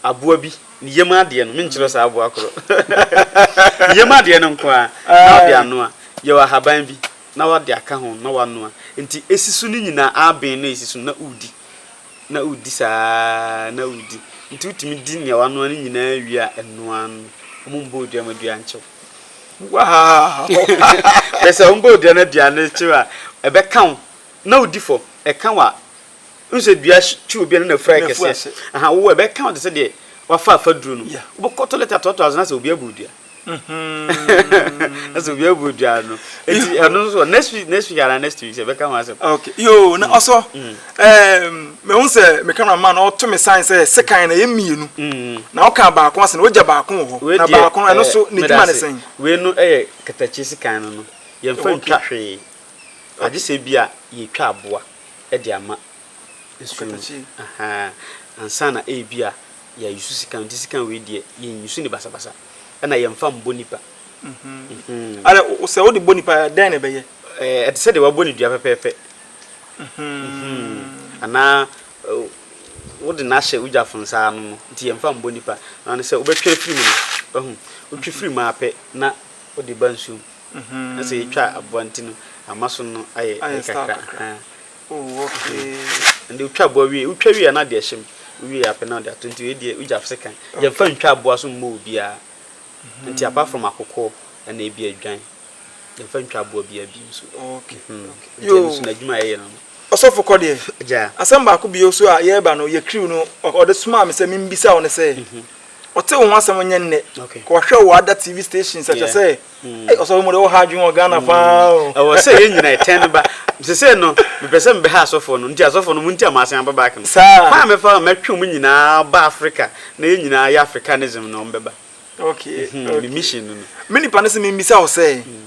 S5: aboa bi, ne yam adeɛ no, menkyerɛ saa aboa korɔ, ne yam adeɛ no nko ara na wode anoa. Yɛwɔ ahaban bi na wode aka ho na woanoa. Nti ɛsi so no nyinaa, aben no a ɛsi so no na wodi. na wodi saa ara na wodi. Nti wotumi di nea wanoa no nyinaa wie a ɛnoa ano. Wɔmmɔ odua ma dua nkyew. Wow! Bɛ sɛ wɔmmɔ odua na dua no kyew a, ɛbɛka wo na wodi fam. Ɛka wo a, wohu sɛ dua twe obi a na n'afura yɛ kɛseɛ. Aha, wo ɛbɛka wo te sɛ deɛ wafa afaduro no. Wobɛkɔ tɔlɛt atɔɔtɔ ase na sɛ obi abɔ odua. ɛsɛ obi abu dwa no eti ɛno nso next week next week ana next week sɛ bɛka ho asɛm. okay yoo na ɔsɔ
S3: ɛɛm mehu sɛ me camera man ɔto me sign sɛ sekan na yɛ mmienu na ɔka baako ase na ɔgya baako wɔ hɔ na baako no ɛno so ne dwuma ne sɛn. wei no ɛyɛ
S5: katakye sekan no no yɛn fa ntwa hwee agye sɛ bi a yɛ twa aboa ɛde ama nsuo mu ahaa ansa na ebi a. yɛ yusu sika nti sika wei deɛ yɛn yusu ne basabasa ɛna yɛn fa mbɔ nipa. Mhm.
S3: ara o sɛ o de bɔ nipa dɛn na ɛbɛyɛ. ɛɛ ɛte sɛ deɛ wabɔ
S5: ne dua pɛpɛɛpɛ. Mhm. anaa wode no ahyɛ wogyafo nsa ano no nti yɛn fa mbɔ nipa na ne sɛ wobɛtwe afiri mu no wahu wotwe firi mu apɛ na wode ba nsuom mhm. na sɛ yɛtwa aboa nti no ama so no ayɛ kakra.
S3: Oh okay ɛnde wotwa aboa
S5: wie wotwa wie a na deɛ hyɛm wie apɛ na ɔde ato nti wei deɛ wogya fse kan yɛmfa ntwa aboa so mmɔ obiara mhm. nti apart from akokɔ ɛna ebi adwan yɛmfa ntwa aboa biara bi nso okay
S3: mhm. nti ɛno so
S5: n'adwuma a ɛyɛ no ɔsɔfo kɔ deɛ
S3: gya asɛm baako
S5: bi nso a
S3: yɛreba no yɛ kiriw no ɔde somaa me sɛ membisa wo no sɛ mhm. ɔte wo ho asɛm nyɛ nnɛ kɔhwɛ wo ada tv stations ɛkyɛ sɛ Hey, also we more hard you Ghana mm. found. I was saying you know
S5: ten ba. Mse say no, me pese me be ha asofo no. Nti asofo no munti amase amba back no. Sa. Kwa me fa me twe mu nyina ba Africa. Na ye nyina ye Africanism no mbeba. Okay. Mm -hmm.
S3: okay. Me mission
S5: no. Me ni pa no se me mbisa
S3: wo say. Mm.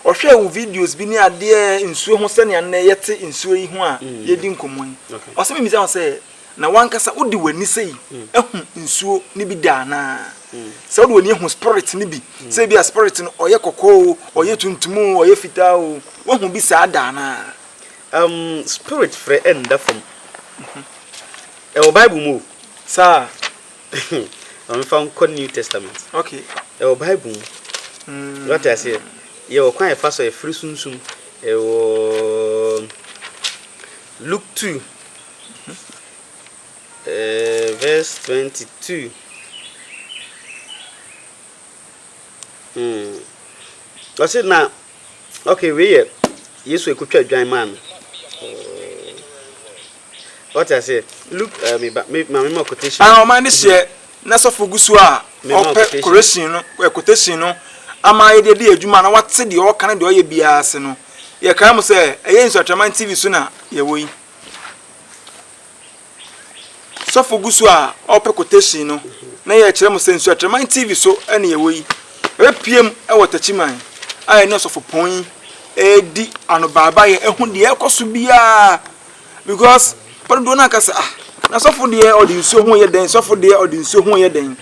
S3: ɔhwɛ wo videos bi ne adeɛ nsuo ho sɛnea nnɛ yɛte nsuo yi ho a mm. yɛdi nkɔmmɔ yi ɔsɛ memisa wo sɛ Na wankasa wode w'ani sei ahu nsuo no bi da anaa? Sɛ wode w'ani ahu spirit no bi, sɛ ebi a spirit no ɔyɛ kɔkɔɔ o, ɔyɛ tuntum o, ɔyɛ fitaa o, woahu bi saa da anaa? Um,
S5: spirit frɛ ɛnda fam. Ɛwɔ Bible mu o. Saa? Ma me fa nkɔ New Testament. Okay. Ɛwɔ
S3: Bible mu.
S5: Mm. Wate aseɛ? Yɛwɔ kwan ɛfa so ɛfiri sunsum. Ɛwɔ Luke 2. Ɛɛ, verse twenty two. Hmm. Ɔsi na okay wei yɛ Yesu ekutwa dwan maa no. Ɔte aseɛ look ɛɛ mi ba mi maame ma quotation. Ah, ɔman ne hyɛ
S3: na sɔfo gu so a ɔpɛ correction no ɛ quotation no ama ayɛ deɛ di adwuma na wate deɛ ɔka ne deɛ ɔyɛ biara ase no yɛkae mo sɛ ɛyɛ nsuatraman tv so na yɛwɔ yi. Sɔfo gu so a ɔrepɛ quotation no na yɛrekyerɛ mo sɛ Nsuateraman TV so na yɛwɔ yi. Yɛbɛpue mu wɔ Takyiman a yɛne Ɔsɔfopɔn yi redi anobaabaeɛ ahu deɛ ɛrekɔ so biara because papa dodoɔ no aka sɛ ah na sɔfo deɛ ɔde nsuo ho yɛ dɛn sɔfo deɛ ɔde nsuo ho yɛ dɛn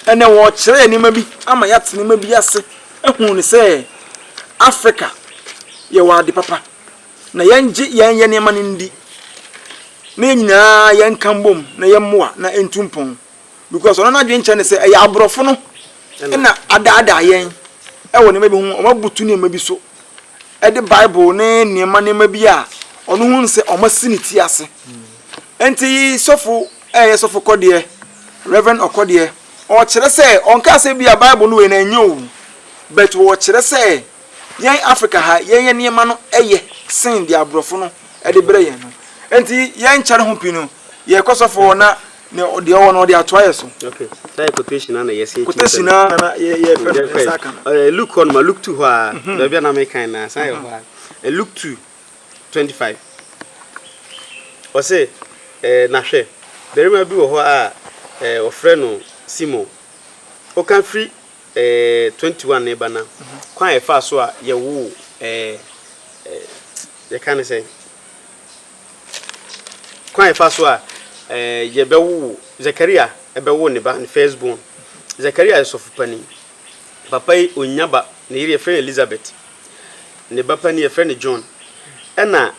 S3: ɛnɛ wɔrekyerɛ yɛ nneɛma bi ama yɛate nneɛma bi ase ahu ne sɛ Africa yɛwɔ ade papa. Na yɛngye yɛn yɛ nneɛma no ndi na yɛn nyinaa yɛnka mbom na yɛmmoa na ɛntu mpɔn because ɔno n'adwene kyerɛ ne sɛ ɛyɛ aborɔfo no na adaadaa yɛn ɛwɔ nneɛma bi ho wɔn abutu nneɛma bi so ɛde bible ne nneɛma nneɛma bi a ɔno ho nsɛ wɔn asi ne ti ase nti sɔfo ɛyɛ sɔfo kɔdeɛ reverend ɔkɔdeɛ ɔkyerɛ sɛ ɔnka sɛ bi a bible no wei na ɛnyɛ owu but wɔkyerɛ sɛ yɛn Africa ha yɛn yɛ nneɛma no yɛ sen deɛ aborɔfo no de brɛ yɛn no nti yɛn kyɛre ho pii no yɛ kɔ sɔfo hɔ na deɛ ɔwɔ no ɔde atoa yɛ so. Ok saa yɛ quotation
S5: na na yɛ sen tumi sɛ no. Quotation na na
S3: yɛ fɛ no yɛ saa ka no. Ɔyɛ Luke
S5: hɔ no ma Luke two hɔ a baabi a na me kan na san yɛ hɔ a ɛ Luke two twenty five ɔsɛ ɛ na hwɛ barima bi wɔ hɔ a ɛ ɔfrɛ no Simon ɔka firi twenty one reba na kwan a yɛfaa so a yɛwoo ɛɛ ɛɛ yɛka ne sɛ kwan a yɛfaa so a ɛɛ yɛbɛwoo Zakaria ɛbɛwoo ne ba ne first born Zakaria yɛ sɔfo panin papa yi onya ba ne yere yɛfrɛ no Elizabeth ne ba panin yɛfrɛ no John ɛna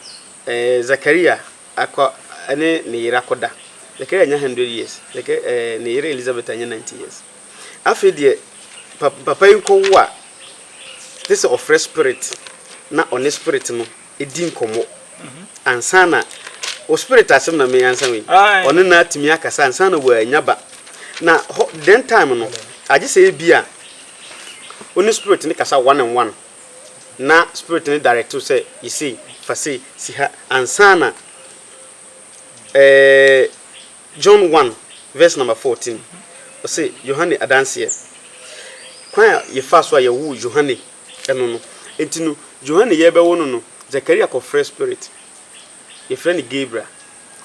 S5: ɛɛ Zakaria Akɔ ne ne yere akɔda. Zechariah anya hundred years, Zeka ɛɛ ne yere Elizabeth anya ninety years. Afei deɛ pa papa yi kɔwo a, te sɛ ɔfrɛ spirit na ɔne spirit no di nkɔmmɔ ansa na o spirit asɛm na me ansa wei. Ɔne no atumi akasa ansa na wɔanya ba. Na hɔ den time no, agye sɛ ebi a wo ne spirit no kasa one on one. na spirit no direct wo sɛ yɛ sei, fa sei si ha ansa na eh, John 1 verse number 14 ɔse Yohane adanseɛ kwan a yɛfaa so a yɛwoo Yohane ɛno no nti no Yohane yɛbɛwo no no Zakaria kɔfrɛ spirit yɛfrɛ no Gabriel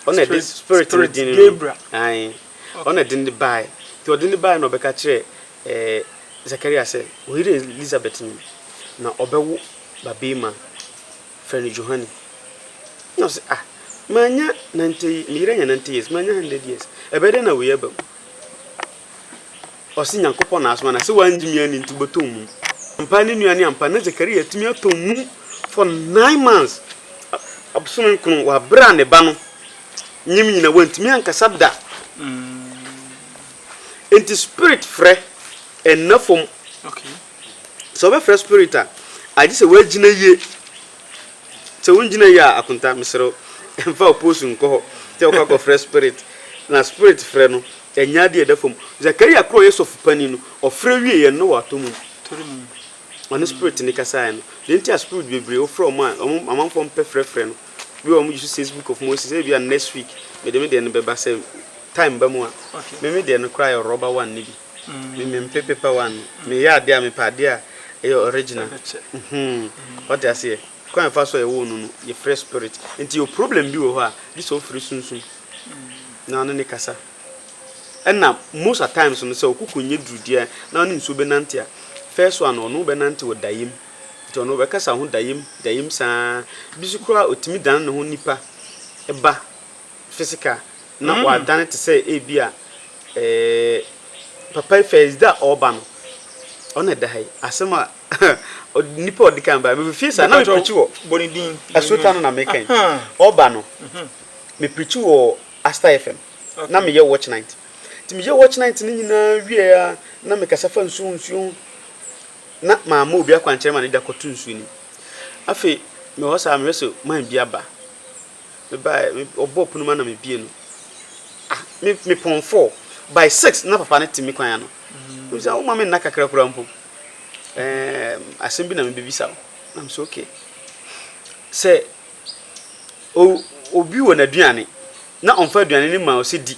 S5: ɔna ɛde spirit no din no ae ɔna ɛde no bae nti ɔde no bae na ɔbɛka kyerɛ Ee, Zechariah sɛ, Wo yere Elisabet nyin, na ɔbɛwo babarima, frɛ no Johane. Ɛna ɔse, Ah, mannya nante ye, me yere anya nante years, mannya hundred years, ɛbɛyɛ dɛn na wei aba mu? Ɔse, Nyankopɔn na asoma no, na sɛ woangye me anni nti wobɛtɔ mum. Ampa ara ne nua ne ampa, na Zechariah atumi atɔ mum for nine months, abosome nkron, wɔ abere a ne ba no nyem nyina, wantumi ankasa da. Enti spirit frɛ nna fam.
S3: Sɛ wobɛfrɛ
S5: spirit a, agye sɛ woagyina yie. Sɛ wongyina yie a, akonta, mesrɛ wo, mfa wo post nkɔ hɔ sɛ wokɔ akɔfrɛ spirit. Na spirit frɛ no, ɛnyɛ adeɛ a ɛda fam. Zakaria koro a ɔyɛ sɔfo panin no, ɔfrɛ wieeɛ no, na watɔ mum.
S3: Ɔno Spirit
S5: no kasaeɛ no. Deɛ nti a Spirit bebree wofrɛ wɔn a wɔn amanfoɔ mpɛ frɛfrɛ no, bi wɔ hɔ a wɔgye so says book of Moses, ebi a next week mede me deɛ no bɛba sɛ time ba mu a. Me me deɛ no koraa yɛ rɔba one no bi. Me me mpɛ paper one no. Me yɛ adeɛ a mepɛ adeɛ a ɛyɛ original. Mhmm wate aseɛ? Kwan a yɛfa so a yɛwoo no no yɛfrɛ Spirit. Nti yɛwɔ problem bi wɔ hɔ a gye sɛ wofrɛ Sunsum na ɔne no kasa. Ɛna most at times no sɛ ɔkoko nyɛ duru deɛ na ɔne nsuo bɛnante a, first one no ɔno wo bɛnante wɔ dayem. Nti ɔno ɔbɛkasa ho dayem dayem saa. Bi so koraa ɔtumi dane ne ho nipa ba physical na wadane te sɛ ebi a eh, papa yi first day a ɔreba no ɔna ɛda ha yi. Asɛm a nipa a ɔdikan ba me fie saa na me preach wɔ Asuta
S3: no na meka
S5: yi. Ɔba no me preach wɔ Aster FM. Na meyɛ watch night. Nti meyɛɛ watch night no nyinaa wieeɛ a, na mekasa fa nsuo ho nsuo ho. Na mamma obi akwankyerɛ ma no de akɔto nsuo no mu. Afei mewɔ hɔ saa mehwɛ sɛ man bi aba. Mebaeɛ, wɔbɔɔ pono mu a na mebue no. Ah, me, mepɔn four. By six na papa no te me kwan ano. Wonim sɛ woma me nna kakra koraa mpo. Ɛɛm, asɛm bi na mebɛbisa wo. Na mese okay. Sɛ o obi wɔ n'aduane na ɔmfa aduane no mma wo sɛ di,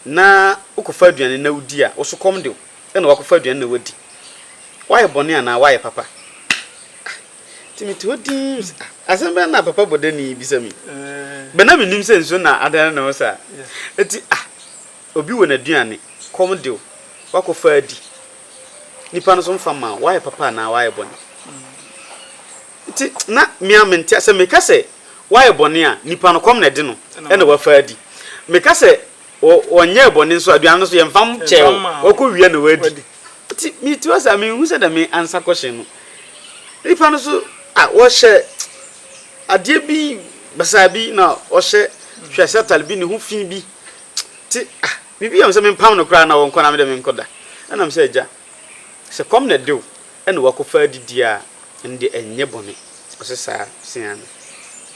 S5: na wokɔfa aduane no na wodi a, wo so kɔm de wo, ɛnna woakɔfa aduane na woadi. Woayɛ bɔne anaa woayɛ papa? Ah, nti mete hɔ dinn mese, ah, asɛm bɛn na papa bɔdani yi bisa me yi? Bɛ na menim sɛ nsuo na adane ne ho saa. Nti, ah, obi wɔ n'aduane, kɔm de wo, woakɔfa adi. Nnipa no so mfa mma wo, woayɛ papa anaa woayɛ bɔne? Enti na me ara mente aseɛ. Meka sɛ, Wayɛ bɔne a, nnipa no, kɔm na ɛde no na wafa adi. Meka sɛ, Ɔnyɛɛ bɔne nso a, aduane no nso, yɛmfa nkyɛɛ wo. Wakɔwia na wadi. Enti mete hɔ saa, menhu sɛdeɛ me ansa kɔhye no. Nnipa no nso, ah, wɔhyɛ adeɛ bi basaa bi na wɔhyɛ hwɛase atare bi, ne ho fi bi. Enti, ah, biribi yɛ me sɛ mempam no koraa na wɔnkɔ na me deɛ menkɔda. Ɛnna mesɛ, Agya, sɛ kɔm na ɛde wo Ɛna wakɔfa adidie a ɛno deɛ ɛnyɛ bɔne. Ɔse saa? Ɔse aane.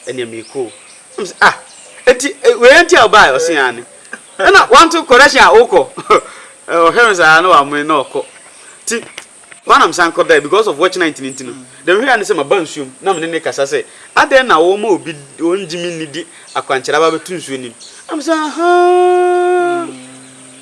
S5: Ɛneɛ meekɔ o. Ɛna mese ah enti wei ara nti a wobaeɛ? Ɔse aane. Ɛna wanto correction a wokɔ? Ɔhwɛ no saa na wamene na ɔkɔ. Nti hɔ a na mesan kɔdae because of watch night no nti no. Deɛ mehwɛeɛ ara ne sɛ maba nsuo mu na mene no rekasa sɛ adɛn na woma obi ɔnngye me nni de akwankyerɛ aba abɛto nsuo no mu? Ɛna mese ahaa.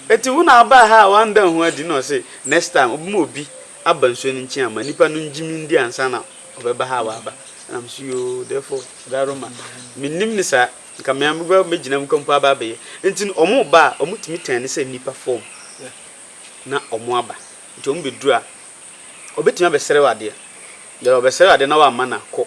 S5: Eti wo na abaa ha a w'anda ho adi na ɔse next time ɔbɛma obi aba nsuo no nkyen ama nipa no ngye me ndi ansa na ɔbɛba ha a w'aba ɛna me so yoo therefore da roma me nnim ne saa nka me a me ba mɛgyina mu ka mpo aba abɛyɛ nti no ɔmo ba a ɔmo tumi tɛn ne sɛ nipa fɔm na ɔmo aba nti ɔmo bɛ duru a ɔbɛtumi abɛsrɛ w'adeɛ dɛ ɔbɛsrɛ w'adeɛ na w'amma no a kɔ.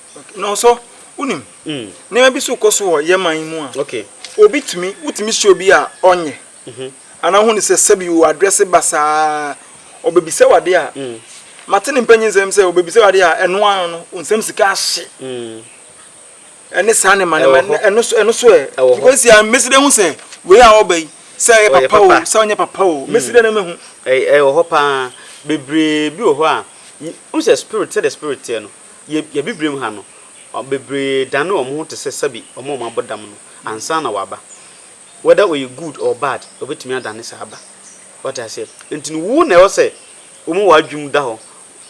S5: Na ɔsɔ,
S3: wonim, nneɛma bi so kɔ so wɔ yɛn man yi mu a, obi tumi,
S5: wotumi
S3: hyɛ obi a ɔnyɛ. Mhm. Anaa hu ne sɛ sɛbi o adrɛse ba saa, ɔbɛbisa wade a, mm. mate ne mpanyin nsɛm sɛ ɔbɛbisa wade a ɛno ano no, nsɛm sika ahye. Mm. Ɛne saa ne ma ne ma, ɛno so, ɛno so ɛ. Because yɛ mmesi dɛ ho sɛ, wei a ɔba yi, sɛ ɛyɛ papa o, sɛ ɔnyɛ papa o, mmesi mm. dɛ na mehu. Ɛwɔ hɔ paa,
S5: bebree bi wɔ hɔ a, hu sɛ spirit, sɛ the spirit teɛ no, Yɛ yɛ Abibirem ha no, bebree dane wɔn ho te sɛ sɛbe wɔn a wɔabɔ dam no ansa na wɔaba. Whether ɔyɛ good or bad, ɔbɛtumi adane saa ba. Wate aseɛ? Nti no, wo na ɛwɔ sɛ woma w'adwene mu da hɔ.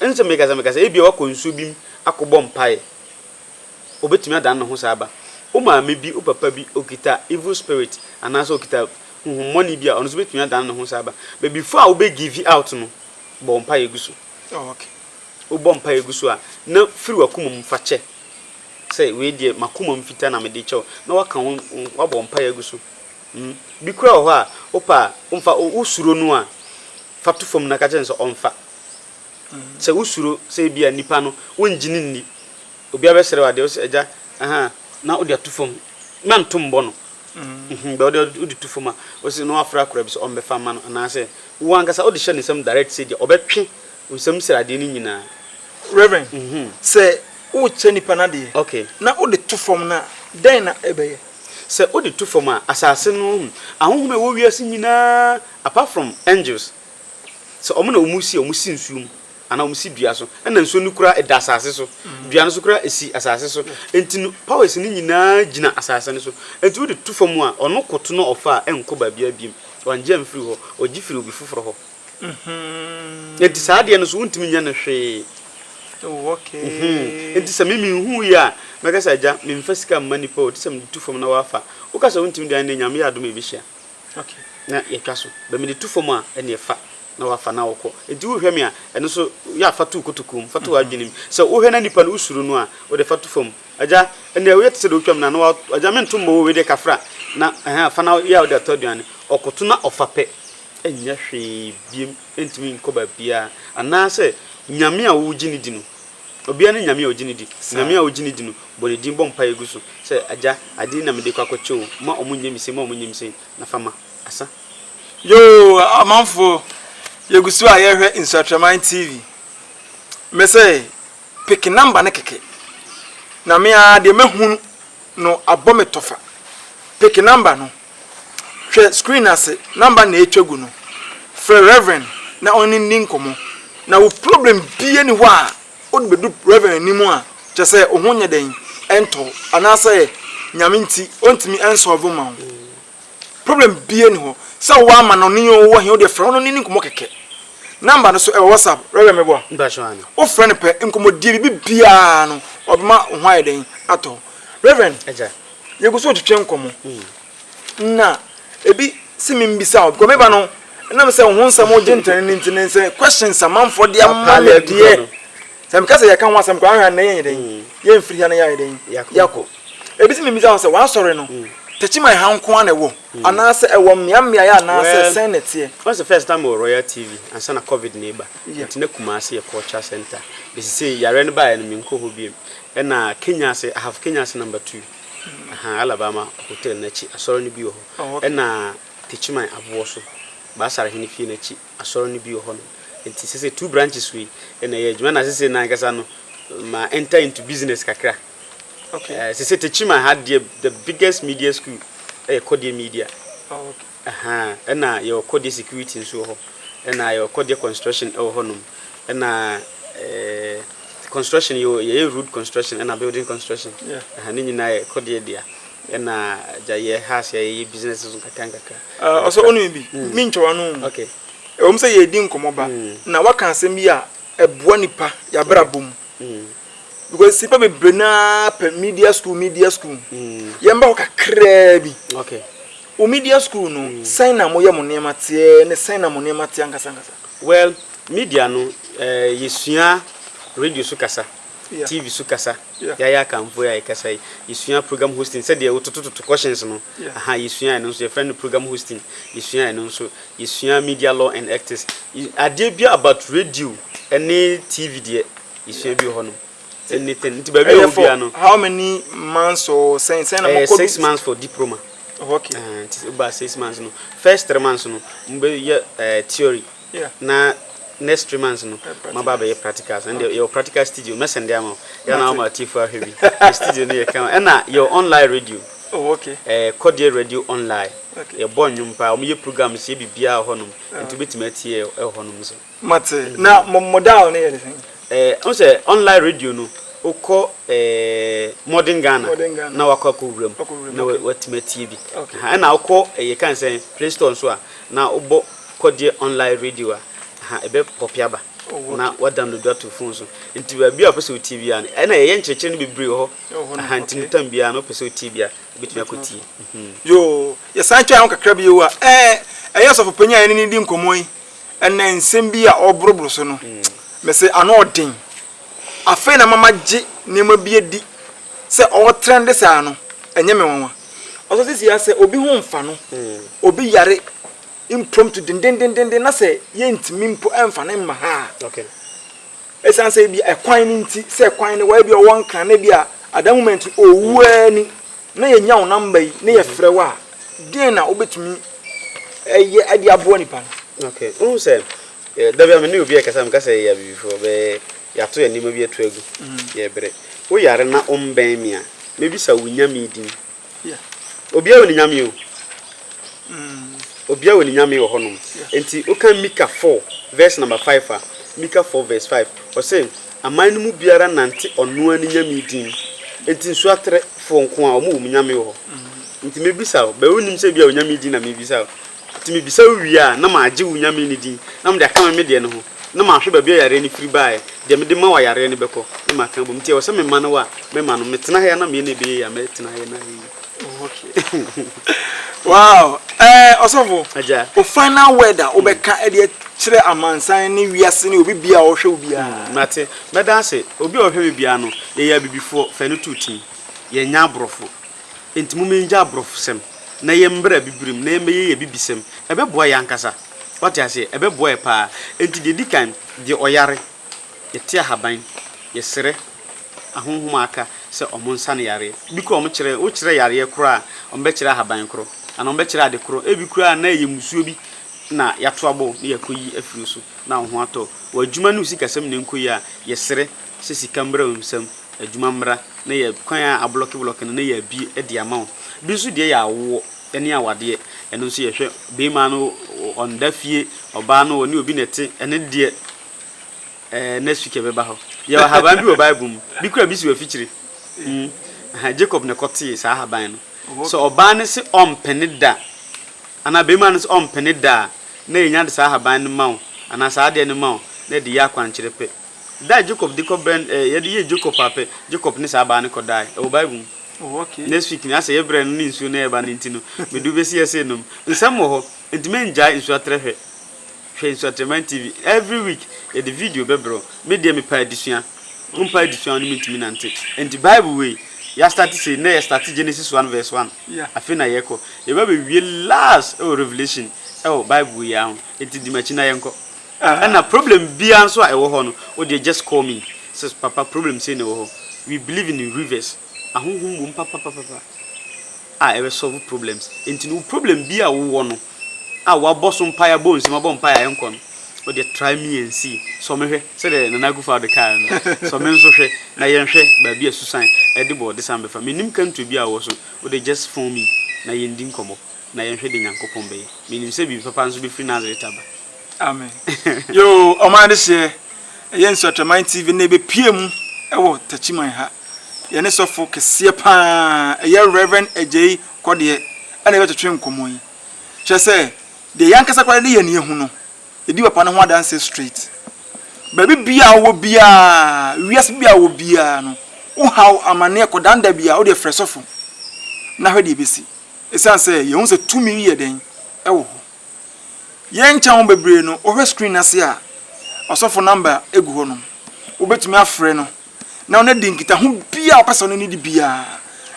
S5: Ɛnne sɛ mekasa mekasa, ebia woakɔ nsuo bi mu akɔbɔ mpaeɛ. Ɔbɛtumi adane ne ho saa ba. Wo maame bi, wo papa bi, ɔkita evil spirit anaasɛ ɔkita honhommɔne bi a, ɔno nso bɛtumi adane ne ho saa ba. But before a wobɛ give out no, bɔ wo mpaeɛ gu so. Oh, okay.
S3: Wobɔ mpaeɛ
S5: gu so a, na firi w'akoma mu fa kyɛ sɛ, Wei deɛ, m'akoma mu fitaa na mede rekyɛ wo, na woaka wo, woabɔ mpaeɛ agu so. Hmm. Bi koraa wɔ hɔ a, wopɛ a, womfa, wosuro no a, fa to fam na ka kyerɛ no sɛ ɔmfa. Sɛ wosuro sɛ ebi a nipa no, wongye no nni, obi abɛsrɛ wo adeɛ, wose, Agya, aha, na wode ato fam, mɛnto mbɔ no. Hmm, bɛ wode, wode to fam a, wose, na wafrɛ akoraa bi sɛ ɔmmɛfa mma no, anaasɛ wo ankasa wode hyɛ ne nsam direct sɛ deɛ ɔbɛtwe Nsɛm sradeɛ no nyinaa. Rev.
S3: Sɛ wokyɛ nipa no adeɛ na wode to
S5: fam
S3: no a, dɛn na ɛbɛyɛ? Sɛ wode to
S5: fam a, asase no, ahonhom a ɛwɔ wiase nyinaa, apart from angels, sɛ wɔn na wɔsi a, wɔsi nsuo mu anaa wɔsi dua so. Ɛna nsuo no koraa ɛda asase so. Dua no nso koraa ɛsi asase so. Enti no, powers no nyinaa gyina asase no so. Enti wode to fam a, ɔno koto na ɔfa a, ɛnkɔ baabiara biom. Wangye amfiri hɔ. Ɔgye firi obi foforɔ hɔ. Enti saa adeɛ no so wontumi nyɛ no hwee. Oh, okay. Mm-hmm.
S3: Nti sɛ me menhu yi a,
S5: mɛka sɛ agya memfa sika mma nipa o, te sɛ mede tu fam na wafa. Woka sɛ wontumi dan ne nyame yɛ adom a yɛbɛhyia. Okay. Na
S3: yɛtwa so.
S5: Bɛ mede tu fam a, ɛneɛ fa na wafa na wokɔ. Nti wohwɛ me a, ɛno so yɛ a fa to kotokuo mu, fa to w'adwene mu. Sɛ wohwɛ na nipa no wosuro no a, wode fa to fam. Agya, ɛneɛ woyɛ te sɛ deɛ wotwa me na na agya mento mmɔ o, wei deɛ kafra. Na ɛhɛn, fa na yɛ a wode atɔ aduane. Ɔkoto na ɔfa pɛ. nyɛ hwee biem, ɛntumi nkɔ baabiara, anaasɛ Nyame a wogye no di no, obiara ne Nyame a ogye no di, Nyame a wogye no di no, bɔ ne din bɔ mpaeɛ gu so sɛ, Agya, adeɛ yi na mede rekɔ akɔkyɛ o, mma wɔn nyɛ me sei, mma wɔn nyɛ me sei, na fa ma. Asa. Yoo
S3: amanfoɔ yɛgu so a yɛrehwɛ Nsuatraman TV. Me se pick number no kɛkɛ na me ara deɛ mɛhunu no abɔ me tɔfa. Pick number no. Hwɛ screen ase, number na etwa gu no. Frɛ Rev. na ɔne nni nkɔmmɔ. Na wo problem biara nni hɔ a wode bedu Rev. anim a, kyerɛ sɛ wo ho nyɛ dɛn? Ɛntɔ wo. Anaasɛ Nyame nti ontumi nsɔlve wo ma wo. Problem biara nni hɔ. Sɛ wowɔ ama no ne yɛ wowɔ he, wodeɛ frɛ no na ɔne nni nkɔmmɔ kɛkɛ. Number no so ɛwɔ WhatsApp, Rev. Meboa? Mpakyɛw aane. Wo frɛ no pɛ, nkɔmmɔdie, biribi biara no ɔbɛma wo ho ayɛ dɛn? Atɔ wo. Rev. Agya.
S5: yɛgu so retwetwe
S3: nkɔmmɔ na ebi si mi mbisa o because meba no ɛnam sɛ ho nsɛm ogye ntɛn ne nti ne sɛ questions amanfoɔ de ama me deɛ sɛ meka sɛ yɛka ho asɛm koraa ahwɛ anɛ yɛnyɛ dɛn mm. yɛmfiri ha na yɛayɛ dɛn yɛakɔ ebi si mi mbisa ho sɛ wɔasɔre no mm. tɛkyiman ha nko ara na ɛwɔ mm. anaasɛ ɛwɔ mmeammea yɛ anaasɛ sɛn na ɛteɛ wɔn sɛ first time wɔ
S5: royal tv ansa na covid na eba nti na kumase yɛ culture center bɛsi sɛ yare no baeɛ no menkɔ hɔ biam Ɛna Kenya ase I have Kenya ase number two ahaa Alabama hotel no akyi asɔre no bi wɔ hɔ ɛna Techiman aboɔ so Baasar hene fie no akyi asɔre no bi wɔ hɔnom nti sese two branches wei ɛna ɛyɛ adwuma ɛna sese no ankasa no ma enter into business kakra Okay. Eh, sese Techiman ha deɛ the biggest media school ɛyɛ Kɔdeɛ Media. Oh, okay.
S3: Ahaa ɛna yɛwɔ kɔdeɛ
S5: security nso wɔ hɔ ɛna yɛwɔ kɔdeɛ construction ɛwɔ hɔ nom ɛna ɛɛ construction yɛwɔ yɛyɛ road construction ɛna building construction ɛha ne nyinaa yɛ kɔdeɛ dea ɛna gya yɛ ha ase yɛyɛ business nso nkakra nkakra. Ɛɛ ɔsɛ ɔnum bi
S3: mm. mi ntwa wano mu okay.
S5: ɛwɔ mu sɛ yɛ di
S3: nkɔmɔ ba mm. na waka asɛm bi a ɛboa nipa yabra bom mm. because nipa bebree naa pɛ media school media school mm. yɛn ba hɔ kakraa bi okay. Wo
S5: media school
S3: no sɛn na moyɛ mo nneɛma teɛ ne sɛn na mo nneɛma te ankasa ankasa? Well
S5: media
S3: no
S5: yɛsua
S3: radio
S5: so kasa, TV so kasa, yɛayɛ aka mpo a yɛkasa yi, yɛsua program hosting sɛdeɛ wototototo questions no aha yɛsua ɛno nso yɛfrɛ no program hosting yɛsua ɛno nso yɛsua media law and ethics adeɛ biara about radio ne TV deɛ yɛsua bi wɔ hɔ nom. anything nti baabi a wobia no how many
S3: months or sɛn sɛn na mokɔ six months for
S5: diploma oh, okay uh, nti
S3: woba six
S5: months no first three months no mobɛyɛ uh, theory yeah. na next three months no maba bɛyɛ practical so ɛnde yɛwɔ practical studio mɛsɛnde ama wo yɛna woma atiefo ahwɛ bi yɛ studio no yɛ kama ɛna yɛwɔ online radio oh, okay. eh,
S3: kɔdeɛ radio
S5: online okay. yɛbɔ nnwom
S3: paa wɔyɛ
S5: programs yɛ biribiaa wɔ hɔnom ah. nti wobɛtumi atie ɛwɔ hɔnom so Mate. Na mo
S3: mo dial no yɛ de sɛn? Ɛɛ, wohu sɛ online
S5: radio no, wokɔ ɛɛ Modern Ghana Modern Ghana. na wakɔ akɔwura mu Wakɔwura mu, na okay. wa- watumi atie bi. Okay. Aha, ɛna wokɔ ɛɛ yɛka no sɛn Play Store nso a na wobɔ Kɔdeɛ Online Radio a, aha, ɛbɛ pɔpe aba Oh, na okay. wa download ato wo phone so. Nti baabi a wopɛ sɛ wotie biara no, ɛna yɛyɛ nkyerɛkyerɛ no bebree wɔ hɔ. Ɛwɔ hɔ no, Aha, nti no okay. tam biara no wopɛ sɛ wotie bi a, wobɛtumi Wobɛtumi akɔtie. Mhm. Yoo,
S3: yɛsan twɛn ho kakra bio a, ɛɛ, ɛyɛ Ɔsɔfopanyin a yɛne no redi nkɔmmɔ yi Ɛnɛ nsɛm bi a ɔreboroboro so no, mese ano ɔden. Afei na mama gye nneɛma bi adi sɛ ɔretrɛnde saa no, ɛnyɛ me nwanwa. Ɔsɔ sisi ara sɛ obi ho mfa no, obi yare impromptu dendendenden na sɛ yɛntumi mpo mfa no mma ha a,
S5: Esiane
S3: sɛ ebia ɛkwan no nti, sɛ ɛkwan no wɔ, ebia ɔwɔ Nkran na ebia adan mu ma nti owu ara ni, na yɛanya wo namba yi na yɛfrɛ wo a, deɛn na wobɛtumi ɛyɛ ɛde aboa nipa no? Ok, wohu sɛ
S5: da bi a me ne obi ɛkasa, meka sɛ yɛyɛ abibifoɔ, bɛ yɛato yɛn nneɛma bi atu agu, yɛbrɛ. Wo yare na wombɛn me a, mɛbisa wo Nyame din. Obiara wɔ ne nyame o. Obiara wɔ ne nyame wɔ hɔnom. Enti wokan Mika four verse number five a, Mika four verse five, ɔse, Aman no mu biara nante ɔnoaa ne nyame din mu. Enti nsoaterefoɔ nkoaa wɔn wɔ mu nyame wɔ hɔ. Enti mebisa wo, bɛɛ wonim sɛ ebia onyame din na mebisa wo. Enti mebisa wo wie a, na magye wo Nyame no din, na mede akame me deɛ no ho, na mahwɛ baabi a yareɛ no firi baeɛ, deɛ mede ma wo a yareɛ no bɛkɔ, na maka abom. Enti ɛwɔ sɛ mema no wo a, mɛma no. Metena ha yi ara na meyɛ nea ɛbɛyɛ yie a, mɛtena ha yi ara na ayɛ yie.
S3: Wow! Ɛɛ Ɔsɔfo, Agya. wo final
S5: word a
S3: wobɛka de akyerɛ amansan ne wiase ne obi biara a ɔhwɛ wo biara. Hmm, mate. Mɛda ase.
S5: Obi a ɔhwɛ me biara no, yɛyɛ Abibifoɔ, fa ɛno to wo tirim. Yɛnyɛ Aborɔfo. Enti momma yɛngyae aborɔfosɛm na yɛmmra Abibirim na yɛmmɛyɛ yɛn Abibisɛm. Ɛbɛboa yɛn ankasa. Woate aseɛ? Ɛbɛboa yɛn pa ara. Enti deɛ ɛdi kan, deɛ ɔyare, yɛte ahaban, yɛsrɛ ahonhom a aka sɛ wɔnsa no yareɛ. Bi koraa a wɔkyerɛ, wokyerɛ yareɛ korɔ a, wɔbɛkyerɛ ahaban korɔ, anaa wɔbɛkyerɛ ade korɔ. Ebi koraa na ɛyɛ mmusuo bi na yɛato abɔ wo na yɛakɔyi afiri wo so na wo ho atɔ wo. W'adwuma ne wo sikasɛm na ɛnkɔ yie a, yɛsrɛ sɛ sika mmra wo nsam. adwuma mmra na yɛ kwan a ablɔke blɔke no na yɛ abue de ama wo bi nso deɛ yɛ awoɔ ne awadeɛ ɛno nso yɛhwɛ bɛɛma no ɔnda fie ɔbaa no ɔne obi na ɛte ɛne deɛ ɛɛ next week ɛbɛba hɔ yɛwɔ haban bi wɔ bible mu bi kura bi si wɔ afikyire mm aha Jacob na ɛkɔ tee saa haban no sɛ ɔbaa no se ɔmpene da anaa bɛɛma no sɛ ɔmpene da a na yɛnya de saa haban no ma wo anaa saa adeɛ no ma wo na ɛde yɛ akwankyerɛ pɛ Da a Jacob de kɔ bɛn eh, yɛde yɛ Jacob a pɛ Jacob ne saa baa no kɔ dae ɛwɔ bible mu oh, okay. next week
S3: ne asɛ yɛ brɛ
S5: no ne nsuo na ɛba no nti no medu bɛsi yɛ sɛ nom nsɛm wɔ hɔ nti mengyae nsuo atrɛ hwɛ hwɛ nsuo atrɛman tv every week yɛde video bɛbrɛ me deɛ mepa adesua wompa adesua wo ne mentumi nante nti bible wei yɛastarte sei na yɛstarte genesis 1 verse 1 yeah. afei na yɛkɔ yɛba bɛwie last ɛwɔ revelation ɛwɔ bible wei ara ho nti di makyi na yɛnkɔ Ah ɛna problem biaa nso a ɛwɔ hɔ no wo deɛ just call me sɛ papa problem sei na ɛwɔ hɔ we believe in rivers ahohom wɔ mu papapapapa a ɛbɛ solve problems nti no wo problem biaa a wo wɔ no a wabɔ so mpaeɛ abɔ nsɛm abɔ mpaeɛ a ɛnkɔ no wo deɛ try me and see sɔ me hwɛ sɛdeɛ Nana Akufo Addo kaa no sɔ me nso hwɛ na yɛn hwɛ baabi a susan ɛde bɔ ɔde san bɛfa menim country biaa a wɔ so wo deɛ just phone me na yɛn di nkɔmmɔ. na yɛnhwɛ de Nyankopɔn bɛyɛ. Menim sɛ biribi papa nso bɛfiri Nazareth aba. Amen.
S3: Yoo, ɔman adehyeɛ. Ɛyɛ Nsuatwaman TV nnɛ yɛbɛpue mu wɔ Takyiman ha. Yɛne sɔfo kɛseɛ pa ara, ɛyɛ Rev. Agyei Kɔdeɛ ɛna yɛbɛtwetwe nkɔmmɔ yi. Kyerɛ sɛ, deɛ yɛn ankasa koraa yɛde yɛn ani ahu no, yɛdi papa no ho adanseɛ straight. Baabi biara a wowɔ biara, wiase biara a wowɔ biara no, wo haw, amaneɛ, kɔdaandaa biara, wo deɛ frɛ sɔfo na hwɛ deɛ ɛbɛsi. Esiane sɛ yehu sɛ tumi yi yɛ den wɔ hɔ, yɛnkyɛ ho bebree no, wohwɛ screen no ase a, ɔsɔfo namba gu hɔ nom. Wobetumi afrɛ no na ɔne adi nkitaho biara a ɔpɛ sɛ ɔne no di biara,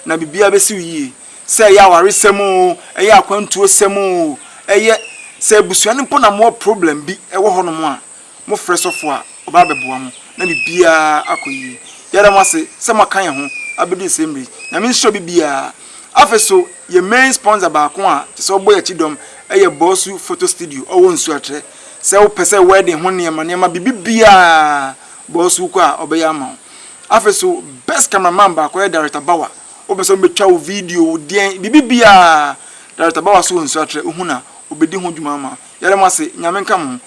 S3: na biribiara besiw yiye. Sɛ ɛyɛ awaresɛm oo, ɛyɛ akwantuosɛm oo, ɛyɛ sɛ abusua no mpo na mowɔ problem bi wɔ hɔnom a, Mofrɛ sɔfo a, ɔba abɛboa mo, na biribiara akɔ yiye. Yɛda mo ase sɛ moaka yɛn ho abedu nsɛɛ mmere yi. Nyame nhyira obi biara. Afei so, yɛn main sponsor baako a kyerɛ sɛ ɔbɔ yɛn akyi dɔm yɛ Bawsu Photo Studio, ɔwɔ Nsuatrɛ. Sɛ wopɛ sɛ wedding ho nneɛma nneɛma, biribi biara, Bawsu wokɔ a, ɔbɛyɛ ama wo. Afei so, best camera man baako yɛ Director Bawa. Wopɛ sɛ ɔbɛtwa wo video, wo deɛn, biribi biara, Director Bawa nso wɔ Nsuatrɛ, wohu no a, ɔbɛdi ho dwuma ama wo. Yɛda mo ase. Nyame nka mo ho.